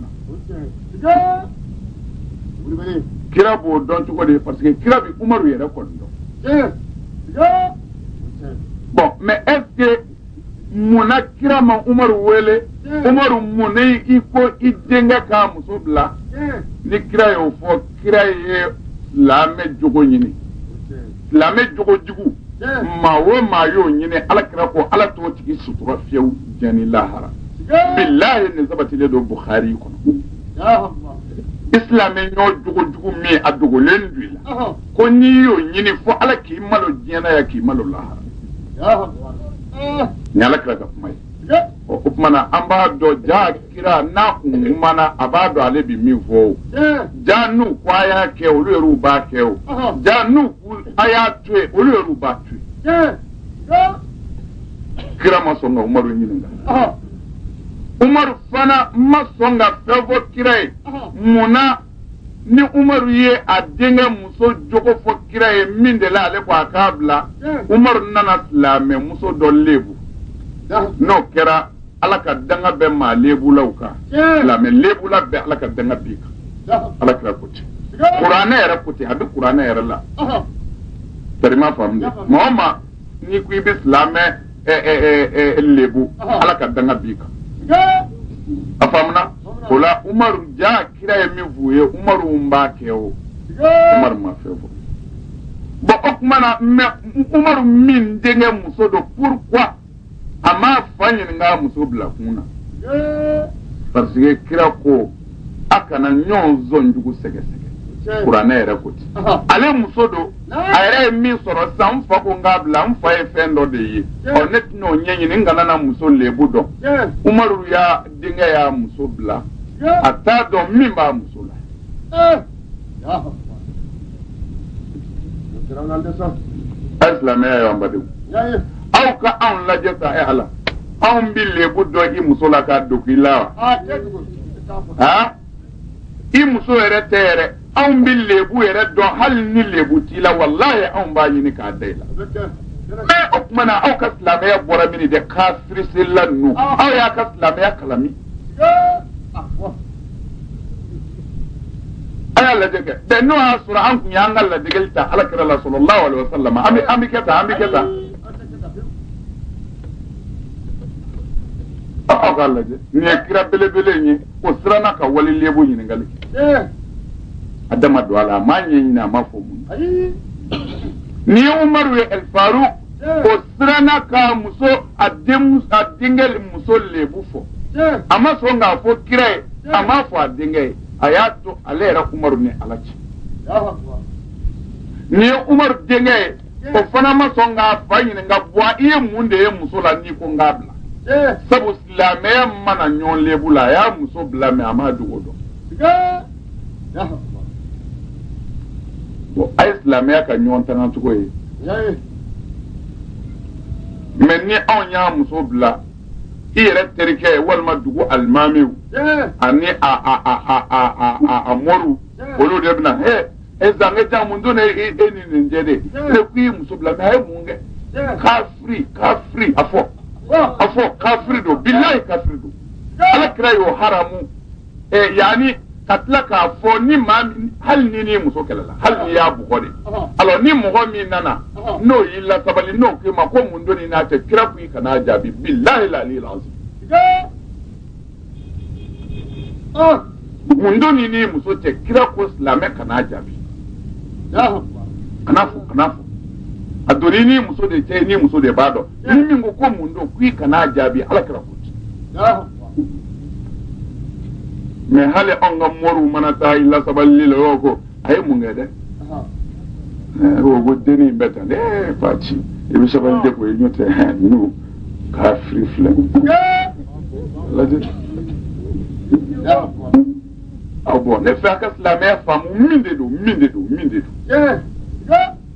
kira b'o dɔn cogo de parce que kira bɛ umaru yɛrɛ kɔni dɔn bon mais est-ce mun na kira ma umaru wele umaru mun na i ko i denkɛ k'a muso bila ni kira y'o fɔ kira ye silamɛ jogo ɲini silamɛ jogo jugu maa o maa y'o ɲini ala kira ko ala t'o tigi sutura fiyewu diɲɛ ni lahara bilahi nin sabatilen don bukhari kɔnɔ i silamɛ ɲɔ jogo jugu min a dogolen don i la ko n'i y'o ɲini fo ala k'i malo diɲɛ na yan k'i malo lahara ni ala kira ka kuma ye o tuma na an b'a dɔn ja kira n'a kun kumana a b'a dɔn ale bi min fɔ o ja n'u ko a y'a kɛ olu yɛrɛw b'a kɛ o ja n'u ko a y'a to yen olu yɛrɛw b'a to yen kira ma sɔn ka umaru ɲininka umaru fana ma sɔn ka fɛn fɔ kira ye mun na ni umaru ye a denkɛ muso jogo fɔ kira ye min de la ale ko a k'a bila umaru nana silamɛ muso dɔ lebu n'o kɛra ala ka danga bɛ maa lebulaw kan silamɛ lebula bɛɛ ala ka danga b'i kan ala kira ko ten kuranɛ yɛrɛ ko ten a bɛ kuranɛ yɛrɛ la tari i m'a faamu de maa o maa n'i ko i bɛ silamɛ lebu ala ka danga b'i kan a faamuna o la umaru ja kira ye min f'u ye umaruw b'a kɛ o umaru ma fɛn fɔ bon o tuma na mais umaru min denkɛ muso don pourquoi a m'a fa ɲininka a muso bila kun na parce que kira ko a kana ɲɔgɔn sɔn jugu sɛgɛsɛgɛ kuranɛ yɛrɛ ko ten ale muso don a yɛrɛ ye min sɔrɔ sisan n fa ko n k'a bila n fa ye fɛn dɔ de ye ɔ ne tɛna o ɲɛɲini n kana na muso lebu dɔn umaru y'a denkɛ y'a muso bila a t'a dɔn min b'a muso la silamɛya n badenw aw ka anw lajɛ sa e ala anw bɛ lebu dɔn i muso la k'a dogo i la wa i muso yɛrɛ tɛ yɛrɛ anw bɛ lebu yɛrɛ dɔn hali ni lebu t'i la walahi anw b'a ɲini k'a da i la o tuma na aw ka silamɛya bɔra min de kafiri selila ninnu aw y'aw ka silamɛya kalan min a y'a lajɛ kɛ dɛ n'o y'a sɔrɔ an tun y'an ka ladegeli ta ala kira la sallallahu alayhi wa sallam an bɛ an bɛ kɛ tan an bɛ kɛ tan aw k'a lajɛ nin ye kira belebele in ye o siranna ka wali lebu ɲininkali kɛ a da ma don a la a m'a ɲɛɲini a m'a fɔ mun na nin ye umaru ye ɛl faruk o siranna ka muso a den a denkɛ muso lebu fɔ a ma sɔn k'a fɔ kira ye a m'a fɔ a denkɛ ye a y'a to ale yɛrɛ umaru ni ala cɛ nin ye umaru denkɛ ye o fana ma sɔn k'a fa ɲininka bua i ye mun de ye muso la n'i ko n k'a bila sabu silamɛya ma na ɲɔgɔn lebu la a y'a muso bila mais a m'a dogo dɔn bon a ye silamɛya ka ɲɔgɔn tanga cogo ye mɛ ni anw y'a muso bila i yɛrɛ terikɛ walima dugu alimamiw ani a moriw olu de bɛna he e zange jan mun don e e ni nin cɛ dɛ ne ko i muso bila mɛ a ye mun kɛ kafiri kafiri a fɔ a fɔ kafiri don bilahi kafiri don ala kira y'o haramu ɛ yanni ka tila k'a fɔ ni maa min hali n'i n'i muso kɛlɛla hali n'i y'a bugɔ de alors ni mɔgɔ min nana n'o y'i lasabali n'o k'i ma ko mun don i n'a cɛ kira ko i kan'a jaabi bilahi la ni lansi mun don i n'i muso cɛ kira ko silamɛ kan'a jaabi kan'a fɔ kan'a fɔ a don i n'i muso de cɛ i n'i muso de b'a dɔn ni min ko ko mun don k'i kan'a jaabi ala kira ko ten mɛ hali anw ka moriw mana taa i lasabali la o ko a ye mun kɛ dɛ o ko denni in bɛ tan dɛ fa ci i bɛ sabali de ko i ɲɔ tɛ n'u kafiri filɛ lajɛ aw bɔ ne fɛ a ka silamɛya faamu min de don min de don min de don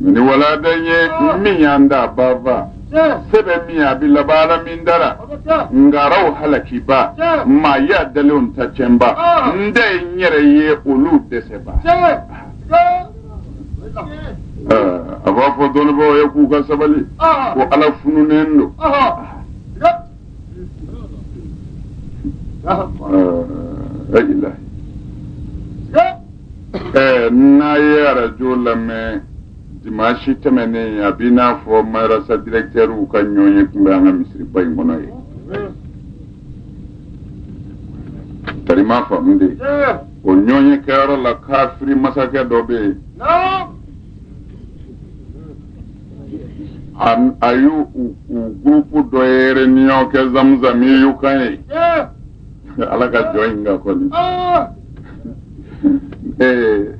Ni walada ye min y'an da banfa se bɛ min a bɛ laban min dara ngaraw halakiba maa y'a dalen ta cɛba n da ye n yɛrɛ ye olu dɛsɛba a b'a fɔ dɔnnibɔ ye k'u ka sabali ko ala fununen don ayilayi ɛɛ n'a ye arajo lamɛn dimansi tɛmɛnen a b'i n'a fɔ marasa direkitɛriw ka ɲɔgɔnye tun bɛ an ka misiriba in kɔnɔ yen tari ma faamu de o ɲɔgɔnye kɛyɔrɔ la kafiri masakɛ dɔ bɛ yen a y'u gurupu dɔ ye reniyɔn kɛ zamuzami y'u kan ye ala ka jɔn in ka kɔni ee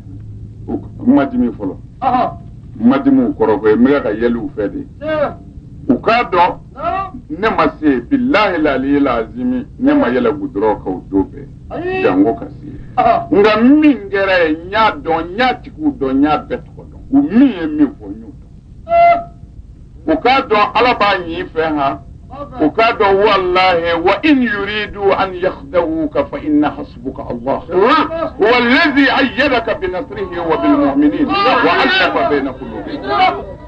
ma dimi fɔlɔ ma dimi u kɔrɔ koyi n bɛ ka yɛlɛ u fɛ de u k'a dɔn ne ma se bilahi la aliyi la azimi ne ma yɛlɛ gudɔrɔn kan o don bɛɛ jango ka se nka min kɛra yen n y'a dɔn n y'a tigiw dɔn n y'a bɛɛ tɔgɔ dɔn u min ye min fɔ n y'o dɔn u k'a dɔn ala b'an fɛ ha u k'a dɔn walahi wa in yuridu an yakhdawuka fa inna hasbuka allah huwa alladhi ayyadaka bi nasrihi wa bil mu'minin wa allafa bayna qulubihim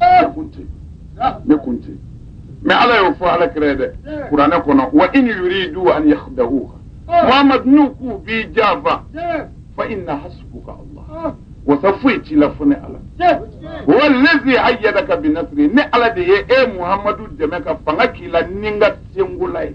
ne kun tɛ ne kun tɛ mais ala y'o fɔ ala kira ye dɛ kuranɛ kɔnɔ wa in yuridu an yakhda'uka muhammad n'u k'u b'i janfa fa inna hasbuka allah wasa foyi t'i la fo ne ala huwa allazi ayyadaka bi nasri ne ala de ye e muhammadu dɛmɛ ka fanga k'i la ni n ka senkola ye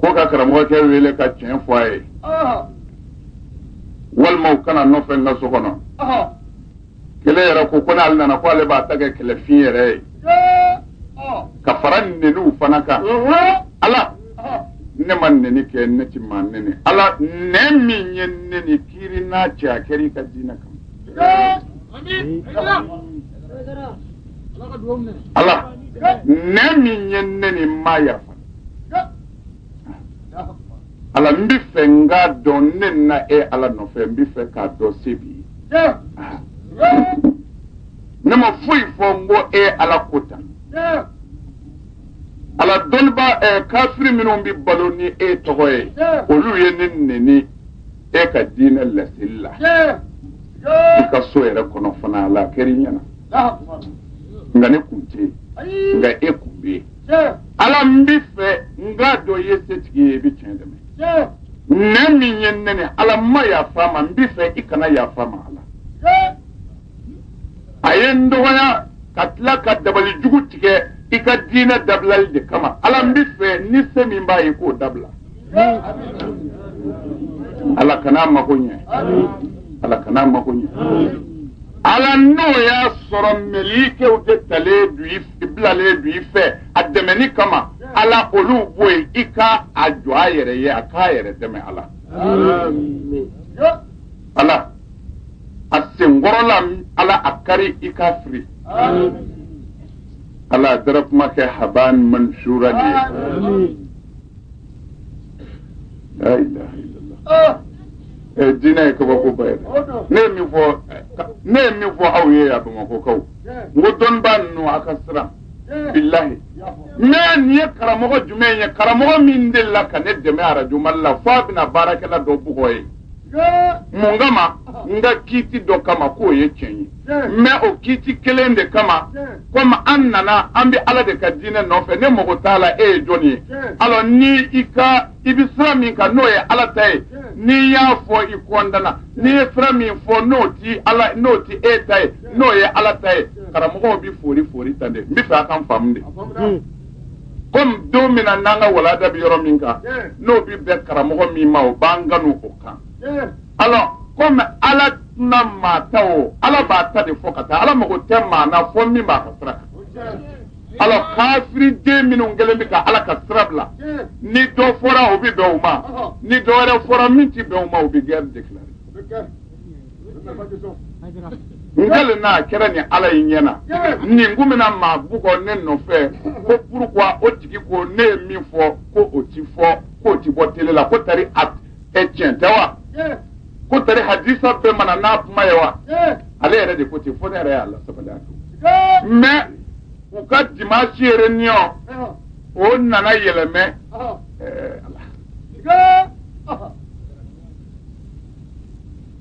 ko ka karamɔgɔkɛ wele ka tiɲɛ fɔ a ye walima u ka na n nɔfɛ n ka so kɔnɔ kelen yɛrɛ ko ko n'ale nana ko ale b'a ta kɛ kɛlɛfin yɛrɛ ye ka fara n neniw fana kan ala ne ma neni kɛ ne ti maa neni ala nɛn min ye n neni kiiri n n'a cɛ a kɛra i ka diinɛ kan ala nɛn min ye n neni n ma yafa ala n bɛ fɛ n k'a dɔn ne nana e ala nɔfɛ n bɛ fɛ k'a dɔn se b'i ye ne ma foyi fɔ n ko e ala ko tan ala dɔnnibaa ɛ eh, kafiri minnu bɛ balo ni e tɔgɔ ye olu ye ne neni e ka diinɛ laseli la i ka so yɛrɛ kɔnɔ fana ala a kɛra i ɲɛna nka ne kun tɛ yen nka e kun bɛ yen ala n bɛ fɛ n k'a dɔn i ye setigi ye i bɛ tiɲɛ dɛmɛ nɛn min ye n neni ala n ma yafa a ma n bɛ fɛ i kana yafa a ma ala a ye n dɔgɔya ka tila ka dabali jugu tigɛ i ka diinɛ dabilali de kama ala n bɛ fɛ ni se min b'a ye k'o dabila ala kana a mako ɲɛ ala kana a mako ɲɛ ala n'o y'a sɔrɔ mɛlikɛw de talen don i bilalen don i fɛ a dɛmɛni kama ala olu bɔ yen i ka a jɔ a yɛrɛ ye a k'a yɛrɛ dɛmɛ ala ala a senkɔrɔla ala a kari i k'a firi ala a dara kuma kɛ haban mansura de ye La ilaha illallah. Ɛ diinɛ ye kabakoba ye dɛ. Ne ye min fɔ ɛ, ka- ne ye min fɔ aw ye yan Bamakɔkaw, n ko dɔnnibaa ninnu a ka siran, bilahi. Mais nin ye karamɔgɔ jumɛn ye? Karamɔgɔ min delila ka ne dɛmɛ arajo Mali la f'a bɛna baarakɛla dɔ bugɔ yen. mun kama n ka kiiti dɔ kama k'o ye tiɲɛ ye mais o kiiti kelen de kama komi an nana an bɛ ala de ka diinɛ nɔfɛ ne mago t'a la e ye jɔn ye alors ni i ka i bɛ sira min kan n'o ye ala ta ye n'i y'a fɔ i kɔndana n'i ye sira min fɔ n'o ti ala n'o ti e ta ye n'o ye ala ta ye karamɔgɔw bɛ foori foori tan de n bɛ fɛ a ka n faamu dɛ. komi don min na n'an ka walada bɛ yɔrɔ min kan n'o bɛ bɛn karamɔgɔ min ma o b'an kanu o kan alors komi ala tɛna maa ta o ala b'a ta de fɔ ka taa ala mago tɛ maa na fo min b'a ka sira kan alors kafiri den minnu kɛlen bɛ ka ala ka sira bila ni dɔ fɔra o bɛ bɛn o ma ni dɔ wɛrɛ fɔra min tɛ bɛn o ma o bɛ guerre déclarer n kalen n'a kɛra ni ala in ɲɛ na nin kun bɛna maa bugɔ ne nɔfɛ ko pourquoi o tigi ko ne ye min fɔ ko o ti fɔ ko o ti bɔ tele la ko tari a ɛ tiɲɛ tɛ wa ko tari hadisa bɛɛ ma na n'a kuma ye wa ale yɛrɛ de ko ten fo ne yɛrɛ y'a lasabali a to mais u ka dimanche réunion o nana yɛlɛmɛ ɛɛ ala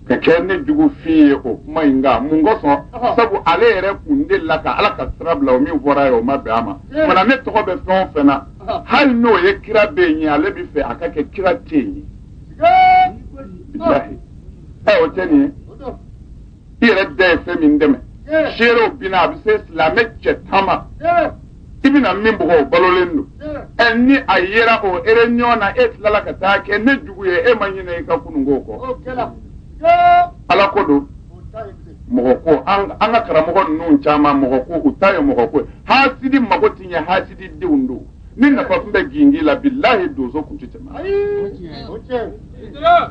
ka kɛ ne jugufin ye o kuma in kan mun kosɔn sabu ale yɛrɛ kun de la ka ala ka sira bila o min fɔra ye o ma bɛn a ma mana ne tɔgɔ bɛ fɛn o fɛn na hali n'o ye kira bɛ yen ye ale b'a fɛ a ka kɛ kira tɛ yen ye bilahi o tɛ nin ye i yɛrɛ de ye fɛn min dɛmɛ seerew bina a bɛ se silamɛ cɛ tan ma i bɛna min bugɔ o balolen don ɛ ni a yera o réunion na e tilala ka taa kɛ ne jugu ye e ma ɲinɛ i ka kununko kɔ ala ko don mɔgɔ ko an ka karamɔgɔ ninnu caman mɔgɔ ko u ta ye mɔgɔ ko hasidi mago tɛ ɲɛ hasidi denw don ni nafa tun bɛ gingin la bilahi donso tun tɛ tɛmɛ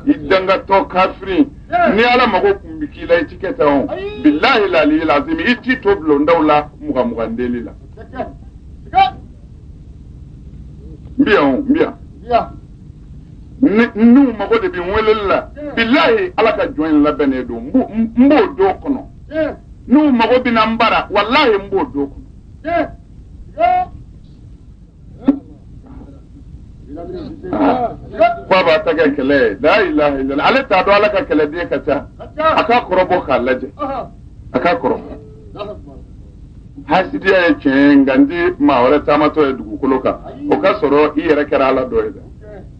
i dangatɔ kafiri ni ala mago tun bɛ k'i la i ti kɛ tan o bilahi laliyi lazim i t'i to bulondaw la mugan mugan deli la n bɛ yan o n bɛ yan n'u mago de bɛ n weleli la bilahi ala ka jɔn in labɛnnen don n b'o don kɔnɔ n'u mago bɛ nanbara walahi n b'o don kɔnɔ fa b'a ta kɛ kɛlɛ ye la ilaha illallah ale t'a dɔn ala ka kɛlɛden ka ca a k'a kɔrɔbɔ k'a lajɛ a k'a kɔrɔbɔ hasidiya ye tiɲɛ ye nka n tɛ maa wɛrɛ taamatɔ ye dugukolo kan o ka sɔrɔ i yɛrɛ kɛra ala dɔ ye dɛ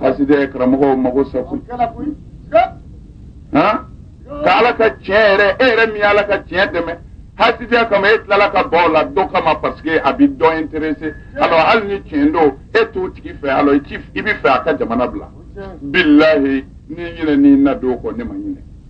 hasidiya karamɔgɔ mago sa ko ka ala ka tiɲɛ yɛrɛ e yɛrɛ min ala ka tiɲɛ dɛmɛ hasidiya kama e tilala ka bɔ u la dɔ kama paseke a bɛ dɔ intéresser alors hali ni tiɲɛ don e t'o tigi fɛ alors i b'a fɛ a ka jamana bila bilayi n'i ɲinɛna i na don kɔ ne ma ɲinɛ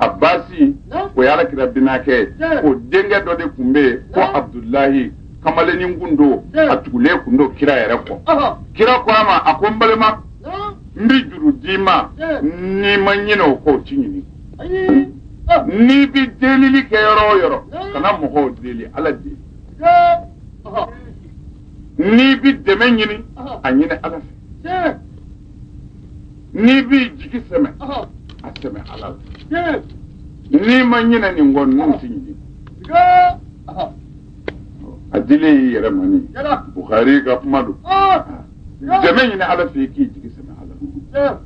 abasi o ye ala kira binakɛ o denkɛ dɔ de kun bɛ yen ko abudulayi kamalennin kun don a tugulen kun don kira yɛrɛ kɔ kira ko a ma a ko n balima n bɛ juru d'i ma n'i ma ɲinɛ o kɔ o t'i ɲini n'i bɛ delili kɛ yɔrɔ o yɔrɔ kana mɔgɔw deli ala deli n'i bɛ dɛmɛ ɲini a ɲini ala fɛ n'i b'i jigi sɛmɛ a sɛmɛ ala la n'i ma ɲinɛ nin kɔ ninnu tɛ ɲini a dilen y'i yɛrɛ ma ni bukari ka kuma don dɛmɛ ɲini ala fɛ i k'i jigi sɛmɛ ala la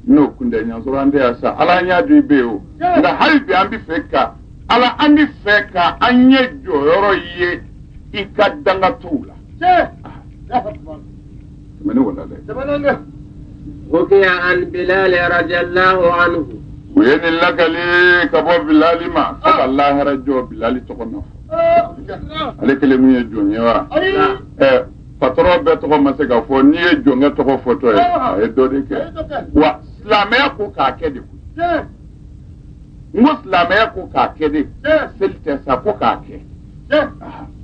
n'o kun tɛ an y'a sɔrɔ an tɛ yan sa ala an y'a di bɛ ye o nka hali bi an bɛ fɛ ka ala an bɛ fɛ ka an ɲɛ jɔyɔrɔ ye i ka danga t'u la tɛmɛn ne wala dɛ Sɛbɛnɛnkɛ. Hukiya an Bilal radiyallahu anhu. u ye nin lakali ka bɔ bilali ma fo ka lahara jɔ bilali tɔgɔ na fɔ ale kelen min ye jɔn ye wa Ayi. ɛ patɔrɔn bɛɛ tɔgɔ ma se ka fɔ n'i ye jɔnkɛ tɔgɔ fɔtɔ ye a ye dɔ de kɛ wa silamɛya ko k'a kɛ de koyi Tiɲɛ. n ko silamɛya ko k'a kɛ de Tiɲɛ. seli tɛ sa ko k'a kɛ Tiɲɛ.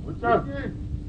O tiɲɛ.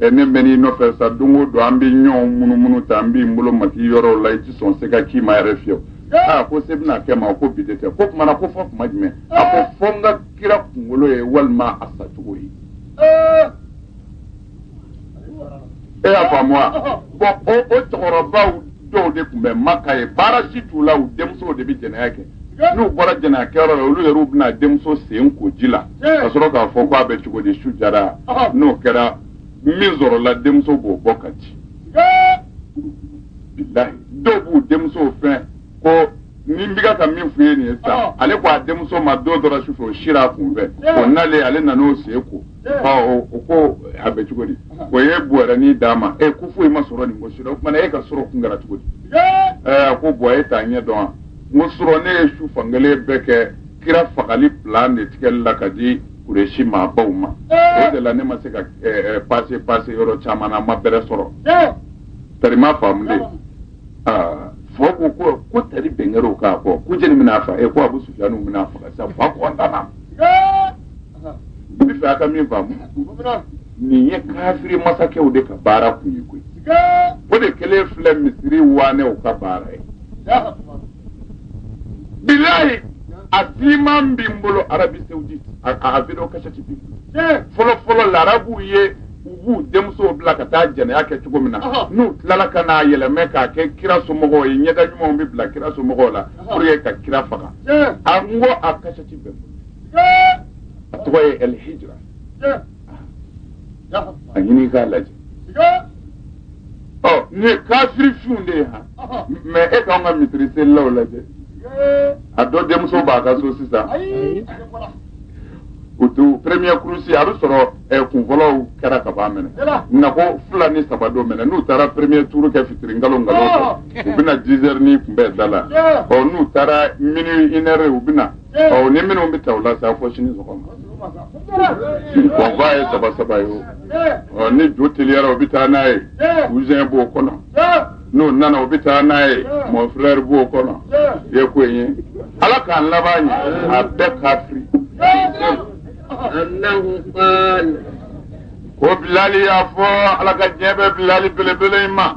ɛ ne mɛnn'i nɔfɛ sa don o don an bɛ ɲɔgɔn munumunu tan n bɛ n bolo mag'i yɔrɔw la i tɛ sɔn se ka k'i ma yɛrɛ fiyewu aa ko se bɛna kɛ n ma ko bi de tɛ ko kuma na ko fo kuma jumɛn a ko fo n ka kira kunkolo ye walima a sacogo ye e y'a faamu wa bɔn o o cɛkɔrɔbaw dɔw de kun bɛ maka ye baara si t'u la u denmusow de bɛ jɛnɛya kɛ n'u bɔra jɛnɛyakɛyɔrɔ la olu yɛrɛw bɛna denmuso sen ko ji la ka sɔrɔ k'a fɔ k'a bɛ cogo di su diyara n'o kɛra min sɔrɔla denmuso b'o bɔ k'a di dɔw b'u denmusow sen ko ni n bɛ ka min f'u ye nin ye sa ale ko a denmuso ma don dɔ la su fɛ o sira a kun fɛ o nalen ale nan'o sen ko ɔ o ko a bɛ cogo di o ye bɔrɛnin d'a ma ɛ ko foyi ma sɔrɔ nin ko si ra o kuma na e ka sɔrɔ kun kɛra cogo di ɛɛ a ko bɔn e t'a ɲɛ dɔn wa n ko surɔ ne ye su fankelen bɛɛ kɛ kira fagali plan de tigɛli la ka di kuresi maabaw ma o de la ne ma se ka pase pase yɔrɔ caman na n ma bɛrɛ sɔrɔ tari ma faamulen fɔ ko ko ko tari bɛnkɛrɛw k'a fɔ ko jeli bɛn'a fa e ko abu sufiyanu bɛn'a faga sa fa kɔntana i bɛ fɛ a ka min faamu nin ye kafiri masakɛw de ka baara kun ye koyi o de kɛlen filɛ misiri waanɛw ka baara ye bilayi a siman bɛ n bolo arabi saoudite a a video kasɛti bi n bolo fɔlɔ fɔlɔ larabuw ye u b'u denmusow bila ka taa jɛnɛya kɛ cogo min na Ɔhɔ. n'u tilala ka n'a yɛlɛmɛ k'a kɛ kira somɔgɔw ye ɲɛda ɲumanw bɛ bila kira somɔgɔw la Ɔhɔ. pour que ka kira faga a n ko a kasɛti bɛ n bolo a tɔgɔ ye el hijra a ɲini k'a lajɛ ɔ nin ye kafiri finw de ye han mais e k'an ka misiri selilaw lajɛ a dɔ denmuso b'a ka so sisan o to premier kurusi a bɛ sɔrɔ eh, kunfɔlɔw kɛra ka b'a minɛna ko fila ni saba don minɛ n'u taara premier tour kɛ fitiri nkalo nkalo fɛ u bɛna dix heures ni kunbɛn da la ɔ n'u taara minuit une heure u bɛna ɔ ni minnu bɛ taa o la sa fɔ sini sɔgɔma o ba ye saba saba ye o ɔ ni jo teliyara o bɛ taa n'a ye cousin b'o kɔnɔ n'o nana o bɛ taa n'a ye mon frère b'o kɔnɔ i ye ko in ye ala k'an laban ɲɛ a bɛɛ kafiri ko bilali y'a fɔ ala ka diɲɛ bɛ bilali belebele in ma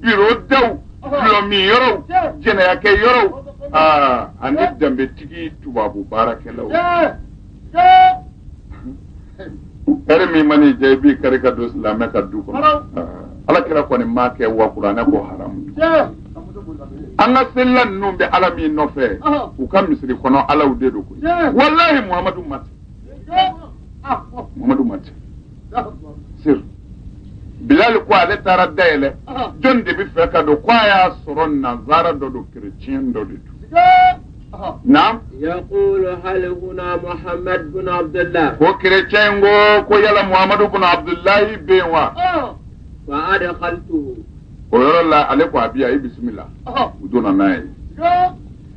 biro daw dulɔmin yɔrɔw jɛnɛyakɛ yɔrɔw aa ani danbetigi tubabu baarakɛlaw heure min man'i diya i b'i kari ka don silamɛ ka du kɔnɔ ala kira kɔni m'a kɛ wa kuranɛ ko haramu an ka selila ninnu bɛ ala min nɔfɛ u ka misiri kɔnɔ alaw de don koyi walahi muhamadu ma ten muhamadu ma ten sir bilali ko ale taara dayɛlɛ jɔn de bɛ fɛ ka don ko a y'a sɔrɔ nanzara dɔ don kerecɛn dɔ de don naam yaqulu hal huna muhammad bin abdullah ko kerecɛn ko ko yala muhammadu bin abdulahi bɛ yen wa fa adkhaltuhu o yɔrɔ la ale ko a bi yan i bisimila u donna n'a ye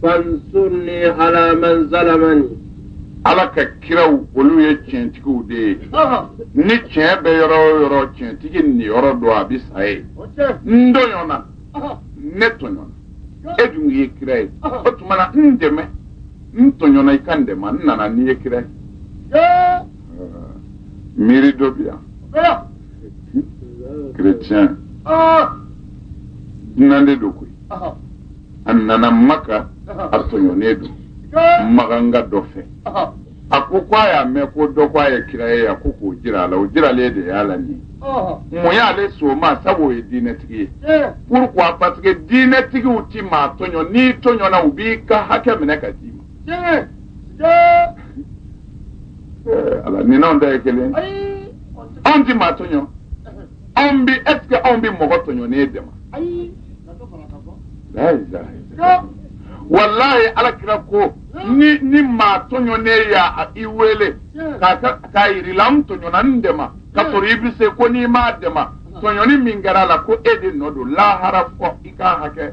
fansurni ala man zalamani ala ka kiraw olu ye tiɲɛtigiw de ye ni tiɲɛ bɛ yɔrɔ o yɔrɔ tiɲɛtigi niyɔrɔ don a bɛ sa ye n tɔɲɔna ne tɔɲɔna e dun ye kira ye o tuma na n dɛmɛ n tɔɲɔna i ka n dɛmɛ n nana n'i ye kira ye miiri dɔ bi yan chrétien dunan de don koyi a nana maka a tɔɲɔnen don makanka dɔ fɛ a ko ko a y'a mɛn ko dɔ ko a ye kira ye a ko k'o jira a la o jiralen de y'a la nin mun y'a lase o ma sabu o ye diinɛtigi ye pourquoi parce que diinɛtigiw ti maa tɔɲɔ n'i tɔɲɔna u b'i ka hakɛ minɛ ka d'i ma ala nin n'anw ta ye kelen anw ti maa tɔɲɔ anw bɛ est ce que anw bɛ mɔgɔ tɔɲɔnen dɛmɛ ayi walayi ala kira ko ni ni maa tɔɲɔnen y'a i wele k'a ka k'a yir'i la n tɔɲɔna n dɛmɛ ka sɔrɔ i bɛ se ko n'i m'a dɛmɛ tɔɲɔni min kɛra a la ko e de nɔ don lahara fɔ i k'a hakɛ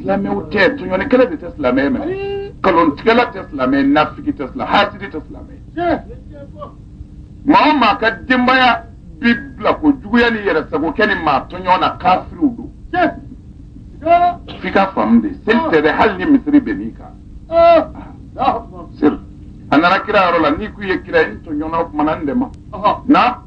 silamɛw tɛ tɔɲɔlikɛla de tɛ silamɛ mɛ kalontigɛla tɛ silamɛ nafigi tɛ silamɛ hasidi tɛ silamɛ maa o maa ka denbaya b'i bila ko juguya ni yɛrɛ sago kɛ ni maa tɔɲɔ na kafiriw don f'i ka faamu de seli tɛ dɛ hali ni misiri benn'i kan seli a nana kira yɔrɔ la n'i k'u ye kira ye n tɔɲɔna o kumana n dɛmɛ na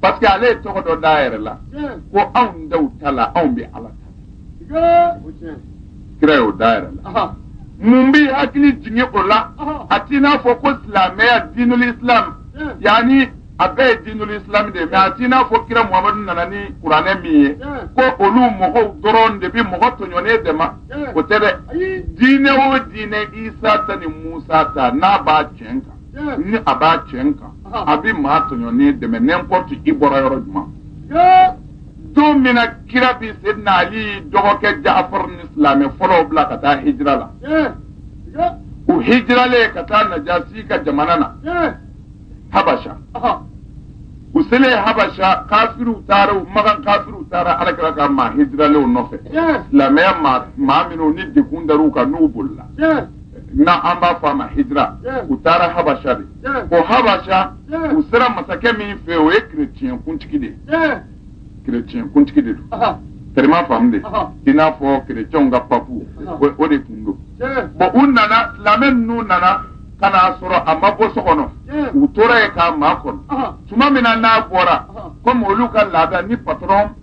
parce que ale ye tɔgɔ dɔ d'a yɛrɛ la ko anw daw ta la anw bɛ ala ta kira y'o d'a yɛrɛ la mun b'i hakili jigin o la a t'i n'a fɔ ko silamɛya diinul islam yanni a bɛɛ ye diinul islam de ye mais a t'i n'a fɔ kira muhamadu nana ni kuranɛ min ye ko olu mɔgɔw dɔrɔn de bi mɔgɔ tɔɲɔnen dɛma o tɛ dɛ diinɛ o diinɛ isa ta ni musa ta n'a b'a tiɲɛ kan ni a b'a tiɲɛ kan a bɛ maa tɔɲɔnen dɛmɛ n'importe i bɔra yɔrɔ jumɛn don min na kira bi sedina ali dɔgɔkɛ jafar ni silamɛ fɔlɔw bila ka taa hijira la u hijiralen ka taa najasi ka jamana na habasha u selen habasha kafiriw taara u makan kafiriw taara alakira ka maa hijiralenw nɔfɛ silamɛya maa minnu ni degun dar'u kan n'u bolila na an b'a fɔ a ma hijira u taara habasha de o habasha u sera masakɛ min fɛ o ye kereciyɛn kuntigi de ye kereciyɛn kuntigi de don tɛrɛma faamu de i n'a fɔ kereciyɛnw ka papu o de tun don bon u nana silamɛ ninnu nana ka n'a sɔrɔ a ma bɔ so kɔnɔ u tora yen k'a makɔnɔ tuma min na n'a bɔra komi olu ka laada ni patron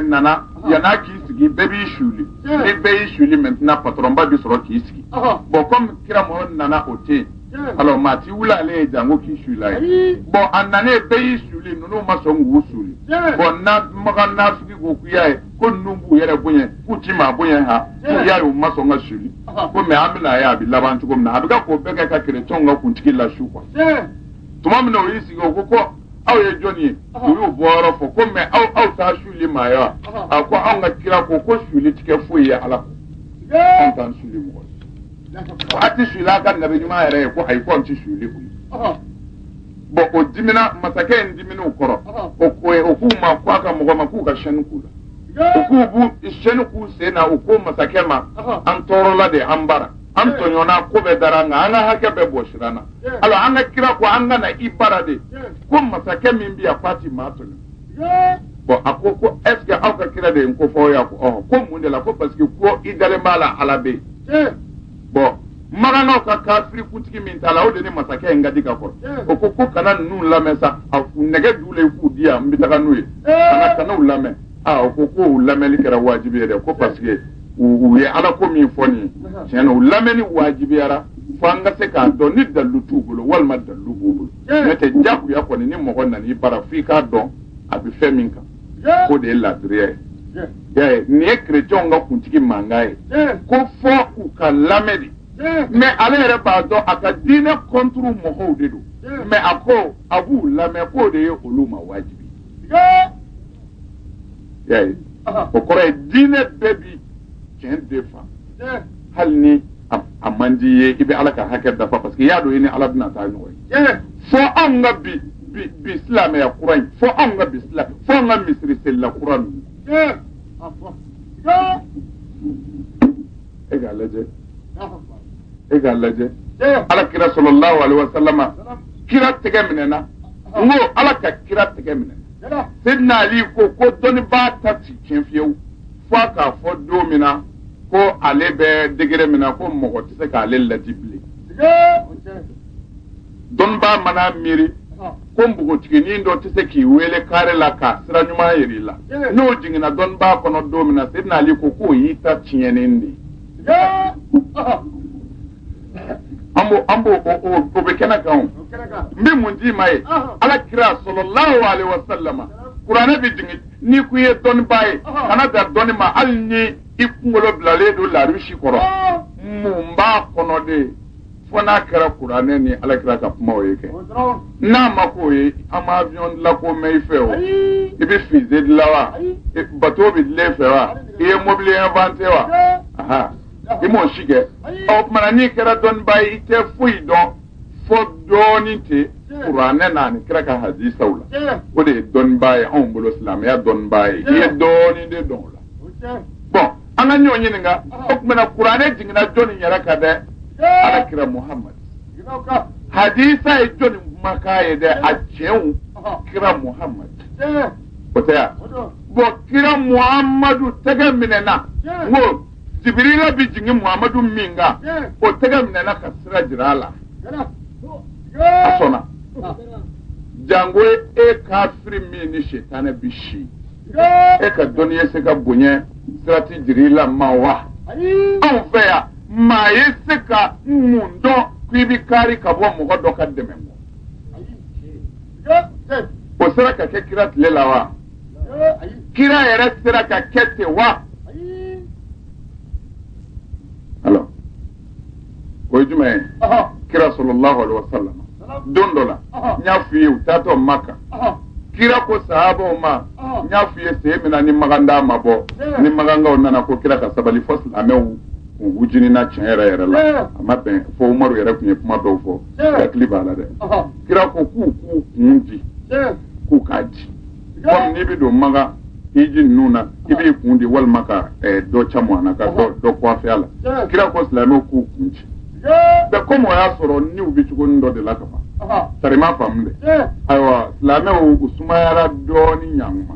nana yann'a k'i sigi bɛɛ b'i suli ni bɛɛ y'i suli maintenant patronba bi sɔrɔ k'i sigi bon komi kira mɔgɔ nana o tɛ yen alors maa ti wuli ale ye janko k'i sul'a ye bon a nanen bɛɛ y'i suli ninnu ma sɔn k'u suli bon na makan nafigi ko k'u y'a ye ko ninnu b'u yɛrɛ bonya k'u ti maa bonya ha k'u y'a ye u ma sɔn ka suli ko mais an bɛna a ye a bɛ laban cogo min na a bɛ ka k'o bɛɛ kɛ ka kerecɛnw ka kuntigi lasu quoi tuma min na o y'i sigi o ko ko aw ye jɔn ye u y'u bɔyɔrɔ fɔ ko mais aw aw t'aw suli maa ye a ko anw ka kira ko ko suli ti kɛ foyi ye ala kɔ anw t'an suli mɔgɔ ye a ti suli a ka nabi ɲuman yɛrɛ ye ko ayi ko anw ti suli o ye bon o dimina masakɛ in dimina u kɔrɔ o ko ye o k'u ma ko a ka mɔgɔ ma k'u ka chaîne k'u la u k'u b'u chaîne k'u sen na u ko masakɛ ma an tɔɔrɔla de an bara an tɔɲɔna ko bɛɛ dara an kan an ka hakɛ bɛɛ bɔsira an na alors an ka kira ko an ka na i bara de ko masakɛ min bɛ yan k'a ti maa tɔɲɔ bon a ko ko est ce que aw ka kira de ye n ko fɔ aw ye a ko ɔhɔn ko mun de la ko parce que ko i dalen b'a la ala bɛ yen bon makankaw ka kafiri kuntigi min taara o de ni masakɛ in ka di ka kɔrɔ o ko ko kana ninnu lamɛn sa a nɛgɛ d'u la i k'u di yan n bɛ taga n'u ye kana kana u lamɛn a ko ko u lamɛnni kɛra wajibi ye dɛ ko parce que u ye ala ko min fɔ n ye tiɲɛ na u lamɛnni wajibiyara fo an ka se k'a dɔn ni dalu t'u bolo walima dalu b'u bolo n'o tɛ jakuya kɔni ni mɔgɔ nana i bara f'i k'a dɔn a bɛ fɛn min kan ko de ye laadiriya ye y'a ye nin ye kerecɛnw ka kuntigi mankan ye ko fo u ka lamɛn de mais ale yɛrɛ b'a dɔn a ka diinɛ contre mɔgɔw de don mais a ko a b'u lamɛn k'o de ye olu ma wajibi y'a ye o kɔrɔ ye diinɛ bɛɛ bi tiɲɛ de fɛ hali ni a man di i ye i bɛ ala ka hakɛ dafa parce que i y'a dɔn i ni ala bɛna taa ɲɔgɔn ye fo anw ka bi bi bi silamɛya kura in fo anw ka bi silamɛ fo anw ka misiri selila kura ninnu e k'a lajɛ e k'a lajɛ ala kira sɔlɔlahu alaihi wasalama kira tɛgɛ minɛna n ko ala ka kira tɛgɛ minɛ seyidina ali ko ko dɔnnibaa ta ti tiɲɛ fiyewu fo a k'a fɔ don min na ko ale bɛ degré min na ko mɔgɔ tɛ se k'ale laadi bilen dɔnnibaa mana miiri ko npogotiginin dɔ tɛ se k'i wele kare la ka sira ɲuman yira i la n'o jiginna dɔnnibaa kɔnɔ don min na seyidina ali ko k'o y'i ta tiɲɛnen de ye an b'o an b'o o o o bɛ kɛnɛ kan o o kɛnɛ kan n bɛ mun d'i ma ye Ɔhɔ. ala kira sɔlɔlahu alayhi wa salama kuranɛ bɛ jigin n'i ko i ye dɔnnibaa ye Ɔhɔ. kana dan dɔnni ma hali ni i kunkolo bilalen don larusi kɔrɔ Ɔɔ. mun b'a kɔnɔ de fo n'a kɛra kuranɛ ni ala kira ka kumaw ye kɛ o dɔrɔn n'a ma k'o ye an ma avion dilan ko mɛn i fɛ o ayi i bɛ fusée dilan wa Ayi. bateau bɛ dilan i fɛ wa i ye mobili inventé wa Ayi. Aha. i m'o si kɛ o tumana n'i kɛra dɔnniba ye i tɛ foyi dɔn fo dɔɔnin tɛ kuranɛ na ani kira ka hadisaw la o de ye dɔnniba ye anw bolo silamɛya dɔnniba ye i ye dɔɔnin de dɔn o la bon an ka ɲɔgɔn ɲininka o tumana kuranɛ jiginna jɔnni yɛrɛ kan dɛ ala kira muhamadu hadisa ye jɔnni kumakan ye dɛ a tiɲɛw kira muhamadu o tɛ yan bon kira muhamadu tɛgɛ minɛna n ko Jibirila bɛ jigin Muhamadu min kan, o tɛgɛ minɛna ka sira jira a la. A sɔnna. Jango e kafiri min ni sitanɛ bɛ si, e ka dɔnni ye se ka bonya sirati Jibirila ma wa? Anw fɛ yan, maa ye se ka mun dɔn k'i bɛ kari ka bɔ mɔgɔ dɔ ka dɛmɛ kɔ? O sera ka kɛ kira tile la wa? kira yɛrɛ sera ka kɛ ten wa alors o ye jumɛn ye kira sallallahu alaihi wasallam don dɔ la n y'a f'i ye u taatɔ maka kira ko sahabaw ma n y'a f'i ye sen min na ni makan da ma bɔ ni makankaw nana ko kira ka sabali fo silamɛw u jenina tiɲɛ yɛrɛ yɛrɛ la a ma bɛn fo umaru yɛrɛ tun ye kuma dɔw fɔ hakili b'a la dɛ kira ko k'u k'u kun di k'u k'a di Kɔmi n'i bɛ don makan hiji ninnu na i b'i kun di walima ka eh, dɔ caman na ka dɔ kuwafe a la kira ko silamɛw k'u kun di bɛɛ komi o y'a sɔrɔ niw bɛ cogonin dɔ de la ka ban sari ma faamu dɛ ayiwa silamɛw u sumayara dɔɔnin ɲɔgɔn ma